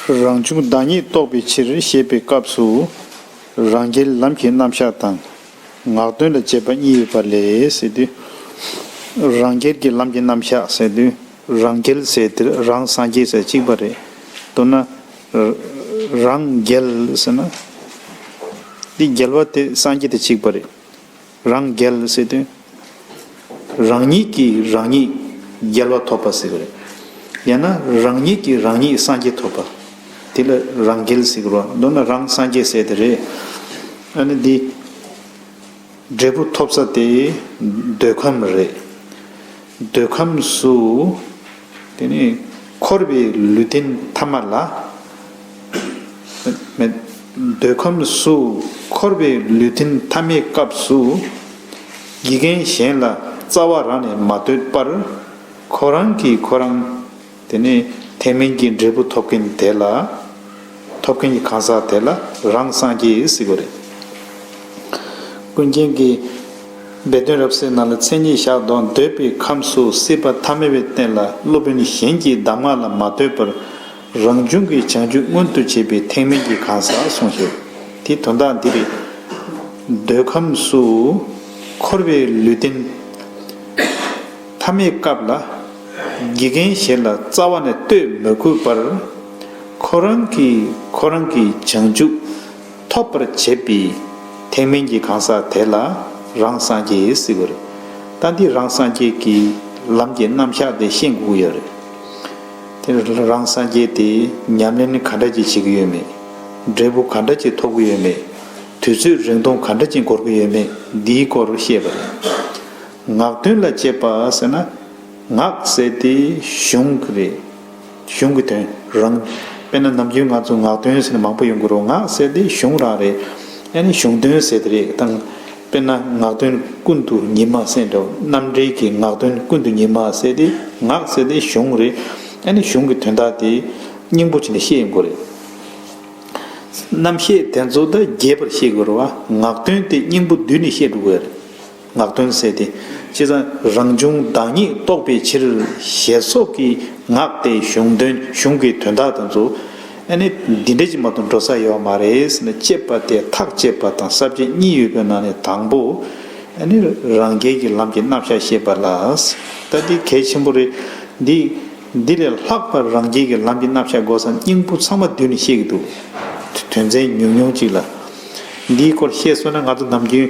རང་བྱུང་བདག་ཉིད་རྟོགས་པའི་ཕྱིར་ཞེས་པའི་སྐབས་སུ། རང་རྒྱལ་ལམ་གྱི་རྣམ་གཞག་དང། ངག་དོན་ལ་འབྱེད་པ་གཉིས་ཡོད་པ་ལས། རང་རྒྱལ་གྱི་ལམ་གྱི་རྣམ་གཞག་ཟེར་དུས་རང་རྒྱལ་ཟེར་དུས་རང་སངས་རྒྱས་ཟེར་གཅིག་པ་རེད། མདོར་ན། རང་རྒྱལ་ཟེར་ན། འདི་རྒྱལ་བ་དེ་སངས་རྒྱས་དེ་གཅིག་པ་རེད། རང་རྒྱལ་སྲིད་དོན་རང་ཉིད་ཀྱིས་རང་ཉིད་རྒྱལ་བ་ཐོབ་པ་ཟེར་བ་རེད། ཡང་ན་རང་ཉིད་ཀྱིས་རང་ཉིད་སངས་རྒྱས་ཐོབ་པ། དེ་ལ་རང་རྒྱལ་ཟེར་རོ། མདོར་ན་རང་སངས་རྒྱས་ཟེར་དེ་རེད། ཨ་ནི་འདི་འབྲས་བུ་ཐོབ་ས་དེ་འདོད་ཁམས་རེད། འདོད་ཁམས་སུ། དེ་ནས་འཁོར་བའི་ལུས་རྟེན་ཐ་མ་ལ། འདོད་ཁམས་སུ་འཁོར་བའི་ལུས་རྟེན་ཐ་མའི་སྐབས་སུ། དགེ་རྒན་གཞན་ལ་རྩ་བ་རང་ནས་མ་བསྟོད་པར། ཁོ་རང་གིས་ཁོ་རང། དེ་ནས་ཐེག་དམན་གྱི་འབྲས་བུ་ཐོབ་མཁན་དེ་ལ། ཐོབ་མཁན་གྱི་གང་ཟག་དེ་ལ་རང་སངས་རྒྱས་གཟིགས་པ་རེད། ཀུན་མཁྱེན་གྱིས། སྦས་དོན་རབ་གསལ་ནང་ལ་མཚན་ཉིད་བཞག་དོགས་འདོད་པའི་ཁམས་སུ་སྲིད་པ་ཐ་མལ་བའི་རྟེན་ལ་སློབ་དཔོན་གཞན་གྱི་གདམས་ངག་ལ་མ་ལྟོས་པར། རང་བྱུང་གི་བྱང་ཆུབ་མངོན་དུ་བྱེད་པའི་ཐེག་དམན་གྱི་གང་ཟག་ཟུང་ཞེས་དེའི་དོན་དག་འདི་རེད། འདོད་ཁམས་སུ་འཁོར་བའི་ལུས་རྟེན། མཐའ་མའི་སྐབས་ལ། དགེ་རྒན་གཞན་ལ་རྩ་བ་ནས་ལྟོས་མི་དགོས་པར། ཁོ་རང་གིས་ཁོ་རང་གི་བྱང་ཆུབ་ཐོབ་པར་བྱེད་པའི་ཐེག་དམན་གྱི་གང་ཟག་དེ་ལ་རང་སངས་རྒྱས་ཟེར་གི་རེད། ད་འདིས་རང་སངས་རྒྱས་ཀྱི་ལམ་གྱི་རྣམ་གཞག་དེ་ཤེས་འགུགས་ཡོད་རེད། དེ་རང་སངས་རྒྱས་དེས་ཉམས་ལེན་ག་འདྲ་ཅིག་བྱེད་ཀྱི་ཡོད་མེད། འབྲས་བུ་ག་འདྲ་ཅིག་ཐོབ་ཀྱི་ཡོད་མེད། དུས་ཚོད་རིང་ཐུང་ག་འདྲ་ཅིག་འགོར་གྱི་ཡོད་མེད་འདིའི་སྐོར་བཤད་པ་རེད། ངག་དོན་ལ་དཔྱད་པ་ཟེར་ན་ངག་ཟེར་དེ་གཞུང་གི་རེད། གཞུང་གི་དོན་རང། དཔེར་ན་ནམ་རྒྱུན་ང་ཚོ་ངག་དོན་ཟེར་ན་མང་པོ་ཡོང་གི་རོ་ངག་ཟེར་དེ་གཞུང་རང་རེད། ཡང་ན་གཞུང་དོན་ཟེར་དེ་རེད་དང། དཔེར་ན་ངག་དོན་ཀུན་ཏུ་ཉི་མ་ཟེར་འདྲ་བོ་རྣམ་འགྲེལ་གྱི་ངག་དོན་ཀུན་ཏུ་ཉི་མ་ཟེར་དེ་ངག་ཟེར་དེ་གཞུང་རེད། ཡང་ན་གཞུང་གི་དོན་དག་དེ་སྙིང་པོ་ཆེ་ནས་བཤད་ཡོང་གི་རེད། རྣམ་བཤད་དེ་ཚོ་དག་རྒྱས་པར་བཤད་དགོས་རུང་ངག་དོན་དེ་སྙིང་པོ་བསྡུས་ནས་བཤད་འགྲོ་དགོས་རེད། ངག་དོན་གསལ་ཏེ། ཅེས་དང། རང་བྱུང་བདག་ཉིད་རྟོགས་པའི་ཕྱིར། ཞེས་སོགས་ཀྱིས་ངག་དེ་གཞུང་དོན་གཞུང་གི་དོན་དག་དང་མཚུངས། ཨ་ནི། འདི་འདྲ་ཅིག་མ་གཏོགས་འགྲོ་ས་ཡོད་བ་མ་རེད་ཟེར་ན་དཔྱད་པ་དེ་ཐག་བཅད་པ་དང་གསར་བཅད་གཉིས་ཡོད་པའི་ནང་ནས་དང་པོ། ཨ་ནི། རང་རྒྱལ་གྱི་ལམ་གྱི་རྣམ་བཞག་ཤེས་པ་ལ། ལྟ་དེ་གལ་ཆེན་པོ་རེད། འདི། འདི་ལས་ལྷག་པར་རང་རྒྱལ་གྱི་ལམ་གྱི་རྣམ་བཞག་སྒོ་སམ་སྙིང་པོ་ཚང་མ་བསྡུས་ནས་བཤད་ཀྱི་འདུག་དོན་ཚན་ཉུང་ཉུང་ཅིག་ལ། འདིའི་སྐོར་བཤད་སྲོལ་ན་ང་ཚོ་ནམ་རྒྱུན།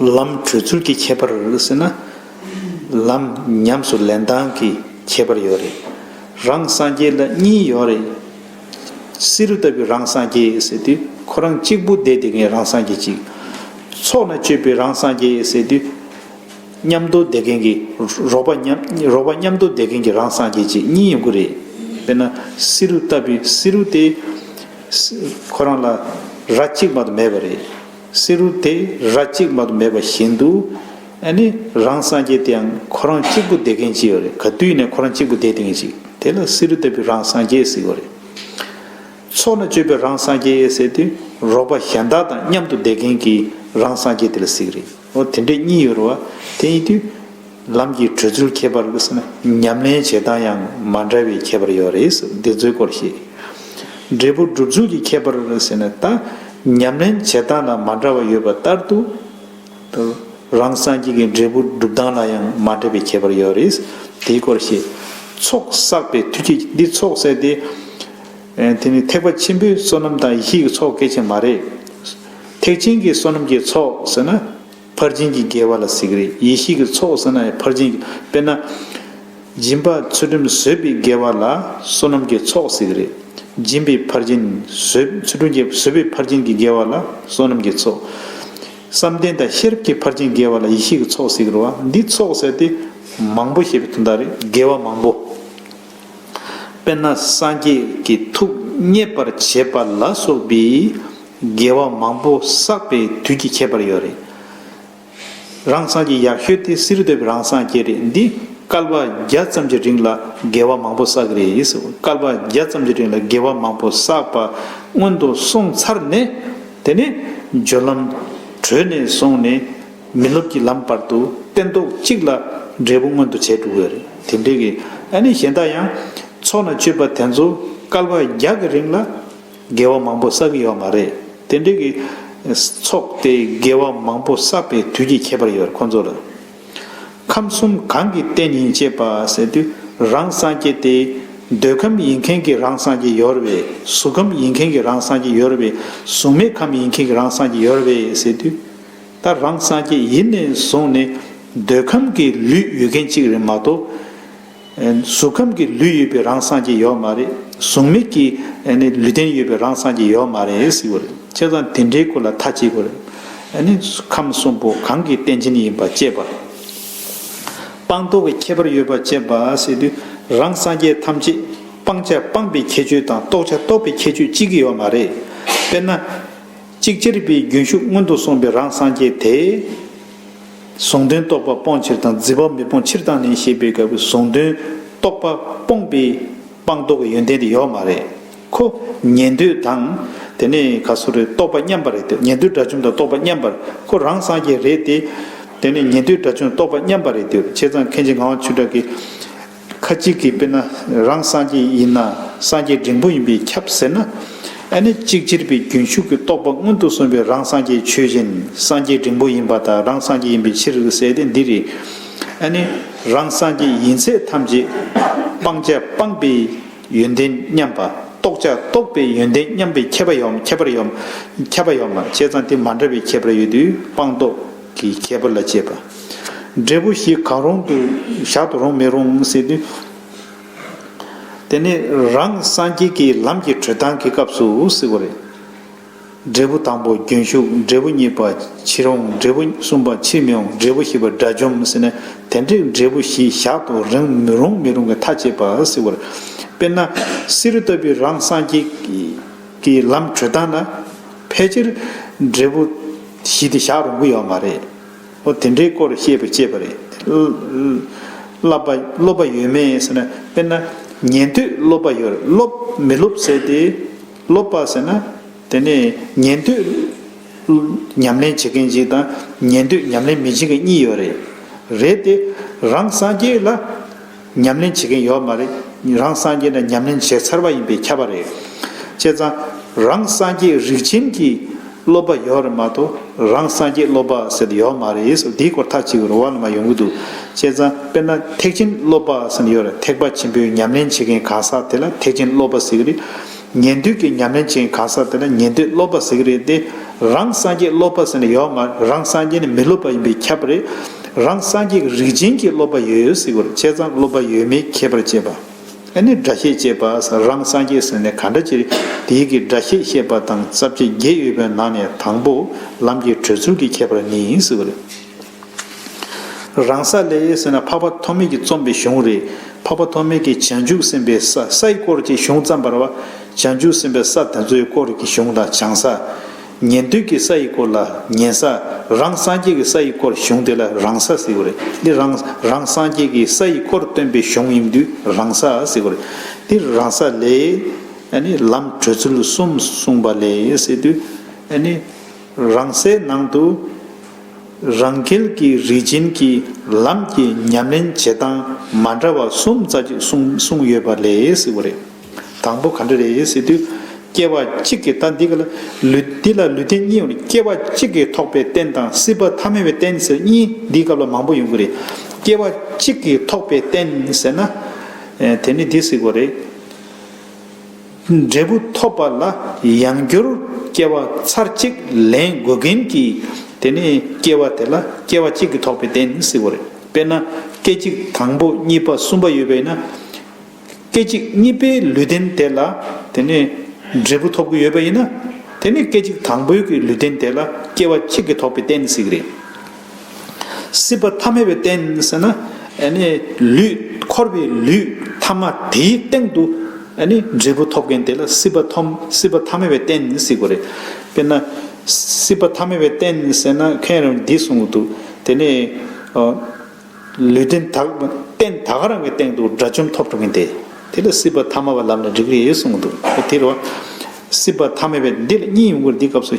ལམ་བགྲོད་ཚུལ་གྱི་ཁྱད་པར་རེད་ཟེར་ན། ལམ་ཉམས་སུ་ལེན་སྟངས་ཀྱི་ཁྱད་པར་ཡོད་རེད། རང་སངས་རྒྱས་ལ་གཉིས་ཡོད་རེད། བསེ་རུ་ལྟ་བུའི་རང་སངས་རྒྱས་ཟེར་དུས་ཁོ་རང་གཅིག་པུ་བསྡད་དེ་ངའི་རང་སངས་རྒྱས་གཅིག། ཚོགས་ལ་སྤྱོད་པའི་རང་སངས་རྒྱས་ཟེར་དུས། མཉམ་དུ་བསྡད་མཁན་གྱི་རོགས་པ་མཉམ་དུ་བསྡད་མཁན་གྱི་རང་སངས་རྒྱས་གཅིག་གཉིས་ཡོང་གི་རེད། དཔེར་ན་བསེ་རུ་ལྟ་བུའི་བསེ་རུ་དེ། ཁོ་རང་ལ་ར་གཅིག་མ་གཏོགས་མེད་པ་རེད། བསེ་རུ་དེ་ར་གཅིག་མ་དུ་མེད་པ་བཞིན་དུ། ཨ་ནི། རང་སངས་རྒྱས་དེའང་ཁོ་རང་གཅིག་པུ་བདེ་མཁན་ཅི་ཡོད་རེད་ག་དུས་ནས་ཁོ་རང་གཅིག་པུ་བདེ་དེང་ཞིག་དེ་ལ་བསེ་རུ་ལྟ་བུའི་རང་སངས་རྒྱས་ཟེར་གོ་རེད། ཚོགས་ན་སྤྱོད་པའི་རང་སངས་རྒྱས་ཡེ་ཟེར་དུས་རོགས་པ་གཞན་དག་དང་མཉམ་དུ་བདེ་མཁན་གྱི་རང་སངས་རྒྱས་དེ་ལ་ཟེར་གི་རེད། འོ་དེ་འདྲས་གཉིས་ཡོད་རུང་བ་དེ་ཡིན་དུས། ལམ་གྱི་བགྲོད་ཚུལ་ཁྱད་པར་བས་ན་ཉམས་ལེན་བྱེད་སྟངས་ཡང་མ་འདྲ་བའི་ཁྱད་པར་ཡོད་རེད། འདི་ཚོའི་སྐོར་ཤེས། འབྲས་བུ་སྒྲུབ་ཚུལ་གྱི་ཁྱད་པར་བས་ན་ད་ཉམས་ལེན་བྱེད་སྟངས་ལ་མ་འདྲ་བ་ཡོད་པ་ལྟར་དུ། རང་སངས་རྒྱས་ཀྱི་འབྲས་བུ་སྒྲུབ་སྟངས་ལ་ཡང་མ་འདྲ་བའི་ཁྱད་པར་ཡོད་རེད། དེའི་སྐོར་ཤེས། ཚོགས་བསགས་པའི་མཐུས་ཀྱིས་འདི་ཚོགས་བསགས་ཏེ། དེ་ནི་ཐེག་པ་ཆེན་པོའི་བསོད་ནམས་དང་ཡེ་ཤེས་ཀྱི་ཚོགས་སྐད་ཅིག་མ་རེད། ཐེག་ཆེན་གྱི་བསོད་ནམས་ཀྱི་ཚོགས་ཟེར་ན། ཕར་ཕྱིན་གྱི་དགེ་བ་ལ་གཟིགས་རེ་ཡེ་ཤེས་ཀྱི་ཚོགས་སེར་སྣ་ཡི་ཕར་ཕྱིན་གྱི་དཔེར་ན། སྦྱིན་པ་ཚུལ་ཁྲིམས་བཟོད་པའི་དགེ་བ་ལ་བསོད་ནམས་ཀྱི་ཚོགས་གཟིགས་རེ། སྦྱིན་པའི་ཕར་ཕྱིན་བཟོད་ཚུལ་ཁྲིམས་ཀྱི་བཟོད་པའི་ཕར་ཕྱིན་གྱི་དགེ་བ་ལ་བསོད་ནམས་ཀྱི་ཚོགས། བསམ་གཏན་དང་ཤེས་རབ་ཀྱི་ཕར་ཕྱིན་དགེ་བ་ལ་ཡེ་ཤེས་ཀྱི་ཚོགས་གཟིགས་རོ། འདིས་ཚོགས་བསལ་ཏེ། མང་པོ་ཞེས་པའི་དོན་དག་རེད་དགེ་བ་མང་པོ། དཔེར་ན་སངས་རྒྱས་ཀྱི་ཐུགས་མཉེས་པར་བྱེད་པ་ལ་སོགས་པའི། རྒྱལ་བ་མང་པོ་བསགས་པའི་དུས་ཀྱི་ཁྱད་པར་ཡོད་རེད། རང་སངས་ཀྱི་ཡག་ཤོས་དེ་སི་རི་དོད་པའི་རང་སངས་རྒྱས་རེད་འདི་སྐལ་པ་བརྒྱ་ཙམ་གྱི་རིང་ལ་རྒྱལ་བ་མང་པོ་བསགས་ཀྱི་རེད་སྐལ་པ་བརྒྱ་ཙམ་གྱི་རིང་ལ་རྒྱལ་བ་མང་པོ་བསགས་པ་སྔོན་དུ་སོང་ཚར་ནས་དེ་ནས་སྦྱོར་ལམ་གྲོལ་ནས་སོང་ནས་མི་སློབ་ཀྱི་ལམ་བར་དུ་སྟན་ཐོག་གཅིག་ལ་འབྲས་བུ་མངོན་དུ་བྱས་འགྲོ་གི་རེད་དེ་འདྲའི་གནས་གཞན་དག་ཡང་ཚོགས་ན་སྤྱོད་པ་དེ་ཚོ་སྐལ་པ་བརྒྱ་གི་རིང་ལ་དགེ་བ་མང་པོ་བསགས་ཀྱི་ཡོད་མ་རེད། དེ་འདྲའི་གི། ཚོགས་དེ་དགེ་བ་མང་པོ་བསགས་པའི་དུས་ཀྱི་ཁྱད་པར་ཡོད་ཁོ་ཚོ་ལ། ཁམས་གསུམ་གང་གི་རྟེན་ཡིན་ཅེས་པ་ཟེར་དུས་རང་སངས་རྒྱས་ཏེ། འདོད་ཁམས་ཡིན་མཁན་གྱི་རང་སངས་རྒྱས་ཡོད་བས་གཟུགས་ཁམས་ཡིན་མཁན་གྱི་རང་སངས་རྒྱས་ཡོད་བས་གཟུགས་མེད་ཁམས་ཡིན་མཁན་གྱི་རང་སངས་རྒྱས་ཡོད་བས་ཟེར་དུས། ད་རང་སངས་རྒྱས་ཡིན་ནས་བཟུང་ནས་འདོད་ཁམས་ཀྱི་ལུས་ཡོད་མཁན་གཅིག་རེད་མ་གཏོགས། གཟུགས་ཁམས་ཀྱི་ལུས་ཡོད་པའི་རང་སངས་རྒྱས་ཡོད་མ་རེད། གཟུགས་མེད་ཀྱི་ལུས་རྟེན་ཡོད་པའི་རང་སངས་རྒྱས་ཡོད་མ་རེད་ཟེར་གྱི་རེད། ཁྱེད་རང་དེ་འདྲའི་སྐོར་ལ་མཐའ་གཅིག་གོ་རེད། ཁམས་གསུམ་པོ་གང་གི་རྟེན་ཅན་ཡིན་པ་དཔྱད་པ། སྤངས་རྟོགས་ཀྱི་ཁྱད་པར་ཡོད་པ་དཔྱད་པ་ཟེར་དུས་རང་སངས་རྒྱས་ཐམས་ཅད་སྤང་བྱ་སྤངས་པའི་ཁྱད་ཆོས་དང་རྟོགས་བྱ་རྟོགས་པའི་ཁྱད་ཆོས་གཅིག་ཡོད་མ་རེད། དཔེར་ན། གཅིག་ཅེར་པའི་རྒྱུན་ཞུགས་སྔོན་དུ་སོང་པའི་རང་སངས་རྒྱས་དེ། གཟུང་དོན་རྟོག་པ་སྤོང་ཕྱིར་དང་རྫི་བ་མི་སྤོང་ཕྱིར་བཏང་ནས་ཞེས་པའི་སྐབས་ཀྱི་གཟུང་དོན་རྟོག་པ་སྤོང་པའི་སྤངས་རྟོགས་ཀྱི་ཡོན་ཏན་དེ་ཡོད་མ་རེད་ཁོ། ཉན་ཐོས་དང། དེ་ནས་ག་སུ་རེད་རྟོག་པ་མཉམ་པ་རེད་དེ་ཉན་ཐོས་དགྲ་བཅོམ་དང་རྟོག་པ་མཉམ་པར་ཁོ་རང་སངས་རྒྱས་རེད་དེ། དེ་ནས་ཉན་ཐོས་དགྲ་བཅོམ་རྟོག་པ་མཉམ་པ་རེད་དེ་བྱས་ཙང་མཁན་ཆེན་ངག་དབང་ཆོས་གྲགས་ཀྱིས། ཁ་ཅིག་གིས་དཔེར་ན་རང་སངས་རྒྱས་ཡིན་ན་སངས་རྒྱས་འབྲིང་པོ་ཡིན་པས་ཁྱབ་ཟེར་ན། ཨ་ནི་གཅིག་གྱུར་པའི་རྒྱུན་ཞུགས་ཀྱི་རྟོག་པ་སྔོན་དུ་སོང་བའི་རང་སངས་རྒྱས་ཆོས་བཞིན་སངས་རྒྱས་འབྲིང་པོ་ཡིན་པ་དང་རང་སངས་རྒྱས་ཡིན་པའི་ཕྱིར་ཟེར་ཏེ་འདིར། ཨ་ནི་རང་སངས་རྒྱས་ཡིན་ཚད་ཐམས་ཅད་སྤང་བྱ་སྤངས་པའི་ཡོན་ཏན་མཉམ་པ་རྟོགས་བྱ་རྟོགས་པའི་ཡོན་ཏན་མཉམ་པའི་ཁྱད་པ་ཡོད། ཁྱད་པར་ཡོད། ཁྱད་པར་ཡོད། བྱས་ཙང་དེ་མ་འདྲ་བའི་ཁྱད་པར་ཡོད་དུས་སྤངས་རྟོགས་ཀྱི་ཁྱད་པར་ལ་བྱེད་པ། འབྲས་བུ་ཞིག་གང་རུང་དུ་བཞག་ཏུ་རུང་མི་རུང་ཟེར་དུས། དེ་ནི་རང་སངས་རྒྱས་ཀྱི་ལམ་གྱི་གྲོལ་སྟངས་ཀྱི་སྐབས་སུ་ཟེར་བ་རེད། འབྲས་བུ་དང་པོ་རྒྱུན་ཞུགས་འབྲས་བུ་གཉིས་པ་ཕྱིར་འོང་འབྲས་བུ་གསུམ་པ་ཕྱིར་མི་འོང་འབྲས་བུ་བཞི་པ་དགྲ་བཅོམ་ཟེར་ན་དེ་འདྲའི་འབྲས་བུ་བཞི་བཞག་ཏུ་རུང་མི་རུང་མི་རུང་གི་ཐག་བཅད་པ་ཟེར་བ་རེད། དཔེར་ན་བསེ་རུ་ལྟ་བུའི་རང་སངས་རྒྱས་ཀྱི་ལམ་གྲོལ་སྟངས་ན་ཕལ་ཆེར་འབྲས་བུ་བཞི་དེ་བཞག་རུང་གི་ཡོད་མ་རེད། ཨོ་དེ་འདྲའི་སྐོར་བཤད་པའི་དཔྱད་པ་རེད། བསླབ་པ་སློབ་པ་ཡོད་མེད་ཟེར་ན་དཔེར་ན་ཉན་ཐོས་སློབ་པ་ཡོད་སློབ་མི་སློབ་ཟེར་ཏེ། སློབ་པ་ཟེར་ན་དེ་ནི་ཉན་ཐོས་ཉམས་ལེན་བྱེད་མཁན་གཅིག་དང་ཉན་ཐོས་ཉམས་ལེན་མི་བྱེད་མཁན་གཉིས་ཡོད་རེད། རེད་དེ། རང་སངས་རྒྱས་ལ། ཉམས་ལེན་བྱེད་མཁན་ཡོད་མ་རེད། རང་སངས་རྒྱས་ན་ཉམས་ལེན་བྱས་ཚར་བ་ཡིན་པས་ཁྱབ་པ་རེད། བྱས་ཙང། རང་སངས་རྒྱས་རིགས་ཆེན་གྱི་སློབ་པ་ཡོད་རེད་མ་གཏོགས་རང་སངས་རྒྱས་སློབ་པ་ཟེར་དུ་ཡོད་མ་རེད་ཨེ་སོ་དེའི་སྐོར་ཐག་གཅིག་རོ་བ་ལ་མ་ཡོང་གི་འདུག་བྱས་ཙང་དཔེར་ན་ཐེག་ཆེན་སློབ་པ་ཟེར་ནི་ཡོད་རེད་ཐེག་པ་ཆེན་པོའི་ཉམས་ལེན་བྱེད་མཁན་གང་ཟག་དེ་ལ་ཐེག་ཆེན་སློབ་པ་ཟེར་གི་རེད། ཉན་ཐོས་ཀྱི་ཉམས་ལེན་བྱེད་གང་ཟག་དེ་ལ་ཉན་ཐོས་སློབ་པ་ཟེར་གྱི་རེད་དེ། རང་སངས་རྒྱས་སློབ་པ་ཟེར་ན་ཡོད་མ་རེད་རང་སངས་རྒྱས་ནི་མི་སློབ་པ་ཡིན་པས་ཁྱབ་པ་རེད། རང་སངས་རྒྱས་ཀྱི་རིགས་ཅན་གྱི་སློབ་པ་ཡོད་ཡོད་ཟེར་གྱི་རེད་བྱས་ཙང་སློབ་པ་ཡོད་མེད་མཁས་པར་བྱེད་པ། ཨ་ནི་སྒྲ་བཤད་ཅེས་པ་ཟེར་རང་སངས་རྒྱས་ཟེར་ནས་ག་འདྲ་བྱེད་རེད་དེ་ཡིག་གི་སྒྲ་བཤད་བཤད་པ་དང་རྩ་བརྒྱད་བརྒྱད་ཡོད་པའི་ནང་ནས་དང་པོ་ལམ་གྱི་གྲོལ་ཚུལ་གྱི་ཁྱད་པར་ནི་ཟེར་གྱི་རེད། རང་ས་ལས་ཡེ་ཟེར་ན་འཕགས་པ་ཐོགས་མེད་ཀྱི་རྩོམ་པའི་གཞུང་རེད། འཕགས་པ་ཐོགས་མེད་ཀྱིས་བྱང་ཆུབ་སེམས་དཔའི་ས་སའི་སྐོར་གྱི་གཞུང་བརྩམས་པར་བ། བྱང་ཆུབ་སེམས་དཔའི་ས་དེ་ཚོའི་སྐོར་གྱི་གཞུང་ལ་བྱང་ས། ཉན་ཐོས་ཀྱི་ས་ཡི་སྐོར་ལ་ཉན་ས། རང་སངས་རྒྱས་ཀྱི་ས་ཡི་སྐོར་གཞུང་དེ་ལ་རང་ས་ཟེར་གྱི་རེད། འདི་རང་རང་སངས་རྒྱས་ཀྱི་ས་ཡི་སྐོར་སྟོན་པའི་གཞུང་ཡིན་དུས་རང་ས་ཟེར་གྱི་རེད། འདི་རང་ས་ལས། ལམ་བགྲོད་ཚུལ་གསུམ་གསུངས་པ་ལས་ཟེར་དུས། རང་སའི་ནང་དུ། རང་རྒྱལ་གྱི་རིགས་ཅན་གྱི་ལམ་གྱི་ཉམས་ལེན་བྱེད་སྟངས་མ་འདྲ་བ་གསུམ་རྩ་གཅིག་གསུངས་ཡོད་པ་ལས་བུ་རེད། དང་པོ་ག་འདྲ་རེད་ཟེར་དུས། སྐྱེ་བ་གཅིག་གིས་ལྟ་འདི་ག་ལ་འདི་ལ་ལུས་རྟེན་གཉིས་ཡོད་ནས་སྐྱེ་བ་གཅིག་གིས་ཐོགས་པའི་རྟེན་དང་སྲིད་པ་ཐ་མལ་བའི་རྟེན་ཟེར་གཉིས་འདིའི་སྐབས་ལ་མང་པོ་ཡོང་གི་རེད། སྐྱེ་བ་གཅིག་གིས་ཐོགས་པའི་རྟེན་ཟེར་ན། དེ་ནི་འདི་ཟིག་གོ་རེད། འབྲས་བུ་ཐོབ་པ་ལ་ཡང་བསྒྱུར་སྐྱེ་བ་ཚར་གཅིག་ལེན་དགོས་གིན་གྱི། དེ་ནས་སྐྱེ་བ་དེ་ལ་སྐྱེ་བ་གཅིག་གིས་ཐོགས་པའི་གཏན་ནི་སྲིད་པོ་རེད། དཔེར་ན་སྐད་ཅིག་དང་པོ་གཉིས་པ་གསུམ་པ་ཡོད་པས་ན། སྐད་ཅིག་གཉིས་པའི་ལུས་རྟེན་དེ་ལ་དེ་ནས་འབྲས་བུ་ཐོབ་ཀྱི་ཡོད་པ་ཡིན་ན། དེ་ནས་སྐད་ཅིག་དང་པོའི་གི་ལུས་རྟེན་དེ་ལ་སྐྱེ་བ་གཅིག་གིས་ཐོགས་པའི་གཏན་ནི་སྲིད་ཀྱི་རེད། སྲིད་པ་ཐ་མལ་བའི་རྟེན་ཟེར་ན། ལུས། འཁོར་བའི་ལུས་ཐ་མ་དེའི་སྟེང་དུ། འབྲས་བུ་ཐོབ་མཁན་དེ་ལ་སྲིད་པ་ཐོམ་སྲིད་པ་ཐ་མལ་བའི་རྟེན་སྲིད་གོ་རེད། དཔེར་ན། སྲིད་པ་ཐ་མལ་བའི་རྟེན་ཟེར་ན་ཁྱོད་རང་འདི་གསུངས་གི་འདུག་དེ་ནས། ལུས་རྟེན་དག་རྟེན་ད་ག་རང་གི་སྟེང་དུ་དགྲ་བཅོམ་ཐོབ་འགྲོ་མཁན་དེ། དེ་ལ་སྲིད་པ་ཐ་མ་བ་ལམ་ནས་འགྲིག་རེད་གསུངས་གི་འདུག་དེ་རུ། སྲིད་པ་ཐ་མལ་བའི་འདི་ལ་གཉིས་ཡོང་གི་འདི་སྐབས་སུ།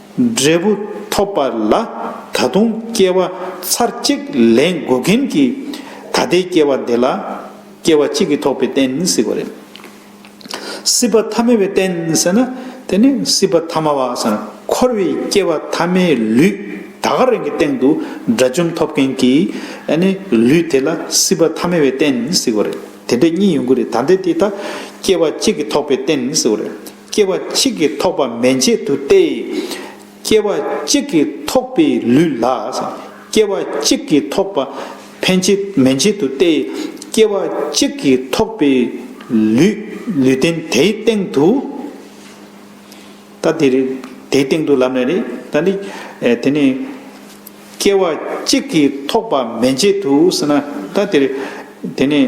འབྲས་བུ་ཐོབ་པ་ལ་ད་དུང་སྐྱེ་བ་ཚར་གཅིག་ལེན་དགོས་མཁན་གྱི་ད་ལྟའི་སྐྱེ་བ་འདི་ལ་སྐྱེ་བ་གཅིག་གིས་ཐོབ་པའི་རྟེན་སྲིད་པ་རེད། སྲིད་པ་ཐ་མལ་བའི་རྟེན་ཟེར་ན་དེ་ནི་སྲིད་པ་ཐ་མ་བ་ཟེར་ན་འཁོར་བའི་སྐྱེ་བ་ཐ་མའི་ལུས་ད་ག་རེང་གི་སྟེང་དུ་དགྲ་བཅོམ་ཐོབ་མཁན་གྱི་ལུས་དེ་ལ་སྲིད་པ་ཐ་མལ་བའི་རྟེན་ཟེར་བ་རེད། དེ་འདྲ་གཉིས་ཡོང་གི་རེད་ད་ལྟའི་དེ་ད་སྐྱེ་བ་གཅིག་གིས་ཐོབ་པའི་རྟེན་ཟེར་བ་རེད། སྐྱེ་བ་གཅིག་གིས་ཐོགས་པ་མན་ཆད་དུ་སྟེ། སྐྱེ་བ་གཅིག་གིས་ཐོགས་པའི་ལུས་ལ། སྐྱེ་བ་གཅིག་གིས་ཐོགས་པ་ཕན་ཆད་མན་ཆད་དུ་སྟེ། སྐྱེ་བ་གཅིག་གིས་ཐོགས་པའི་ལུས་ལུས་རྟེན་དེའི་སྟེང་དུ། ད་དེ། དེའི་སྟེང་དུ་ལབ་ནས་ནི། ད་ནི། དེ་ནི། སྐྱེ་བ་གཅིག་གིས་ཐོགས་པ་མན་ཆད་དུ་ཟེར་ན། ད་དེ། དེ་ནི།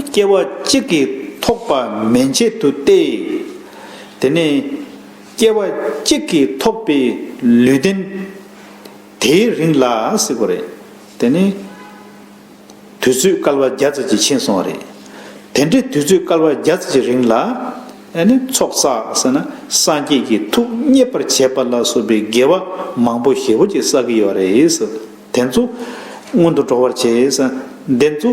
སྐྱེ་བ་གཅིག་གིས་ཐོགས་པ་མན་ཆད་དུ་སྟེ། དེ་ནས་སྐྱེ་བ་གཅིག་གིས་ཐོགས་པའི་ལུས་རྟེན་དེའི་རིང་ལ་སྲིད་པ་རེད། དེ་ནི་དུས་ཚོད་སྐལ་བ་བརྒྱ་རྩ་གཅིག་ཕྱིན་སོང་བ་རེད། དེ་འདྲའི་དུས་ཚོད་སྐལ་བ་བརྒྱ་རྩ་གཅིག་རིང་ལ། ཚོགས་བསགས་ཟེར་ན་སངས་རྒྱས་ཀྱི་ཐུགས་མཉེས་པར་བྱས་པ་ལ་སོགས་པའི་དགེ་བ་མང་པོ་ཞེ་བོ་ཅིག་བསགས་ཀྱི་ཡོད་རེད། དེ་ཚོ་སྔོན་དུ་འགྲོ་བར་བྱས། དེ་ཚོ།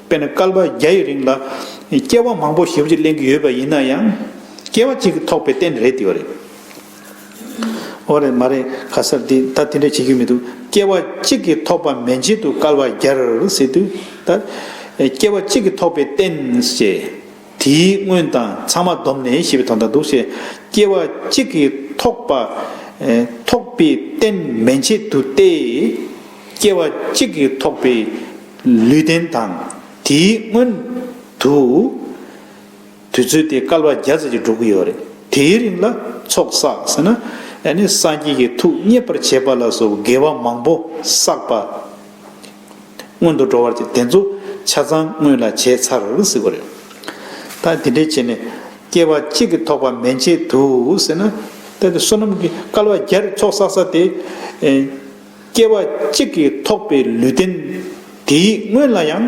དཔེར་ན་སྐལ་པ་བརྒྱ་ཡི་རིང་ལ་སྐྱེ་བ་མང་པོ་ཞིབ་ཀྱིས་གླེང་གི་ཡོད་པ་ཡིན་ན་ཡང། སྐྱེ་བ་གཅིག་གིས་ཐོགས་པའི་རྟེན་རེད་དེ་བ་རེད། འོ་རེད་མ་རེད་ག་སར་དེ་ད་དེ་འདྲ་བྱེད་ཀྱི་མི་འདུག་སྐྱེ་བ་གཅིག་གིས་ཐོགས་པ་མན་ཆད་དུ་སྐལ་བ་བརྒྱར་ཟེར་དུས་ད། སྐྱེ་བ་གཅིག་གིས་ཐོགས་པའི་རྟེན་ཞེས། དེའི་སྔོན་དང་ཚང་མ་བསྡོམས་ནས་ཞེས་པའི་དོན་དང་འདུ་བྱེད་སྐྱེ་བ་གཅིག་གིས་ཐོགས་པ། ཐོགས་པའི་རྟེན་མན་ཆད་དུ་སྟེ། སྐྱེ་བ་གཅིག་གིས་ཐོགས་པའི་ལུས་རྟེན་དང། དེའི་སྔོན་དུ། དུས་ཚོད་དེ་སྐལ་བ་བརྒྱ་ཙམ་གྱིས་འགྲོ་གི་ཡོད་རེད། དེའི་རིང་ལ་ཚོགས་བསགས་ཟེར་ན། ཡང་ནི་སངས་རྒྱས་ཀྱི་ཐུགས་མཉེས་པར་བྱེད་པ་ལ་སོགས་དགེ་བ་མང་པོ་བསགས་པ། སྔོན་དུ་འགྲོ་བར་གྱི་དེ་ཚོ་ཆ་ཚང་སྔོན་ལ་བྱས་ཚར་ཟིག་པ་རེད། ད་དེ་འདྲས་བྱས་ནས་སྐྱེ་བ་གཅིག་གི་ཐོག་པ་མན་ཆད་དུ་ཟེར་ན། ད་དེ་བསོད་ནམས་ཀྱི་སྐལ་བ་བརྒྱ་རེ་ཚོགས་བསགས་ས་དེ། སྐྱེ་བ་གཅིག་གི་ཐོག་པའི་ལུས་རྟེན་དེའི་སྔོན་ལ་ཡང།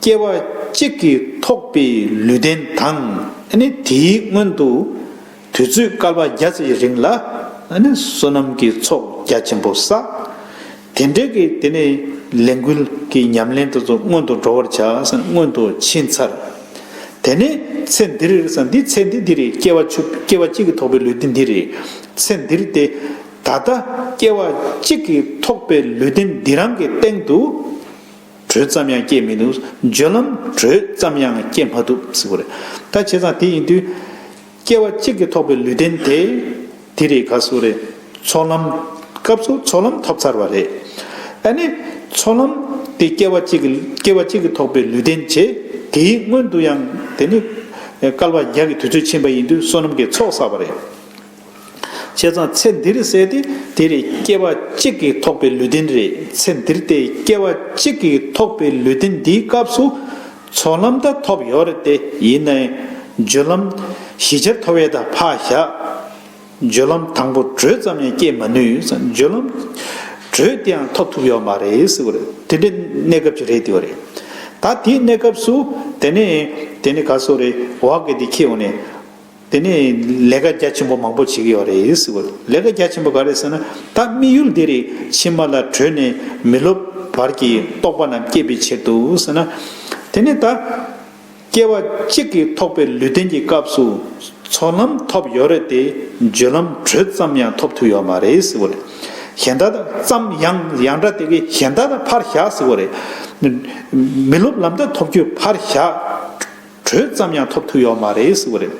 སྐྱེ་བ་གཅིག་གིས་ཐོགས་པའི་ལུས་རྟེན་དང། དེའི་སྔོན་དུ་དུས་ཚོད་སྐལ་པ་བརྒྱ་ཙམ་གྱི་རིང་ལ། བསོད་ནམས་ཀྱི་ཚོགས་རྒྱ་ཆེན་པོ་བསག། དེ་འབྲེལ་གྱི་དེ་ནས་ལས་འགུལ་གྱི་ཉམས་ལེན་དུ་སྔོན་དུ་འགྲོ་བར་བྱ། སྔོན་དུ་ཕྱིན་ཚར། དེ་ནས་ཚེ་འདིར་འདི་ཚེ་འདི་འདི་རེད་སྐྱེ་བ་སྐྱེ་བ་གཅིག་གིས་ཐོགས་པའི་ལུས་རྟེན་འདི་རེད། ཚེ་འདིར་ཏེ། ད་ལྟ་སྐྱེ་བ་གཅིག་གིས་ཐོགས་པའི་ལུས་རྟེན་འདི་རང་གི་སྟེང་དུ། བྲོས་ཙམ་ཡང་སྐྱེས་མི་འདུག་འཇོན་ལམ་བྲོས་ཙམ་ཡང་སྐྱེས་མ་འདུག་ཟེར་བ་རེད་ད་བྱས་ཙང་དེ་ཡིན་དུས། སྐྱེ་བ་གཅིག་གིས་ཐོགས་པའི་ལུས་རྟེན་དེ། དེ་རེས་ག་སོ་རེད། ཚོགས་ལམ། སྐབས་སུ་ཚོགས་ལམ་ཐོབ་ཚར་བ་རེད། ཨ་ནི། ཚོགས་ལམ། དེ་སྐྱེ་བ་གཅིག་གིས་སྐྱེ་བ་གཅིག་གིས་ཐོགས་པའི་ལུས་རྟེན་བྱས། དེའི་སྔོན་དུ་ཡང་དེ་ནི། སྐལ་བ་བརྒྱ་གི་དུས་ཚོད་ཕྱིན་པ་ཡིན་དུས་བསོད་ནམས་ཀྱི་ཚོགས་བསགས་པ་རེད། བྱས་ཙང་ཚེ་འདིར་བསད་དེ་དེར་སྐྱེ་བ་གཅིག་གིས་ཐོགས་པའི་ལུས་རྟེན་རེད་ཚེ་འདིར་དེ་སྐྱེ་བ་གཅིག་གིས་ཐོགས་པའི་ལུས་རྟེན་འདིའི་སྐབས་སུ། ཚོགས་ལམ་དག་ཐོབ་ཡོད་རེད་དེ་ཡིན་ནའི། སྦྱོད་ལམ། བཞི་ཆར་ཐོ་བས་དག་འཕགས་བཞག། སྦྱོད་ལམ་དང་པོ་བགྲོད་ཙམ་ཡང་སྐྱེ་མ་ནུས། སྦྱོད་ལམ། བགྲོད་དེའང་ཐོབ་ཐུབ་ཡོད་མ་རེད་ཟེར་བ་རེད་དེ་འདྲའི་གནས་སྐབས་ཅིག་རེད་དེའོ་རེད། ད་དེའི་གནས་སྐབས་སུ་དེ་ནས་དེ་ནི་ག་སོ་རེད་བག་གི་དེ་ཁྱེའོ་ནས། དེ་ནས་ལས་ཀ་རྒྱ་ཆེན་པོ་མང་པོ་བྱེད་ཀྱི་ཡོད་རེད་ཟེར་བ། ལས་ཀ་རྒྱ་ཆེན་པོ་ག་རེད་ཟེར་ན། ད་དམིགས་ཡུལ་འདི་རིགས་ཕྱི་མ་ལ་བྲོས་ནས་མི་ལོབ་བར་གྱི་རྟོགས་པ་རྣམས་བསྐྱེད་པའི་ཕྱིར་དུ་ཟེར་ན། དེ་ནས་ད། སྐྱེ་བ་གཅིག་གིས་ཐོགས་པའི་ལུས་རྟེན་གྱི་སྐབས་སུ། ཚོགས་ལམ་ཐོབ་ཡོད་རེད་དེ། བརྗོད་ལམ་བྲོས་ཙམ་ཡང་ཐོབ་ཐུབ་ཡོད་མ་རེད་ཟེར་བ། གཞན་དག་ཙམ་ཡང་ཡང་འདྲ་དེ་གའི་གཞན་དག་ཕར་བཞག་ཟེར་བ་རེད། མི་ལོབ་ལམ་དག་ཐོབ་རྒྱུ་ཕར་བཞག། གྲོས་ཙམ་ཡང་ཐོབ་ཐུབ་ཡོད་མ་རེད་ཟེར་བ་རེད།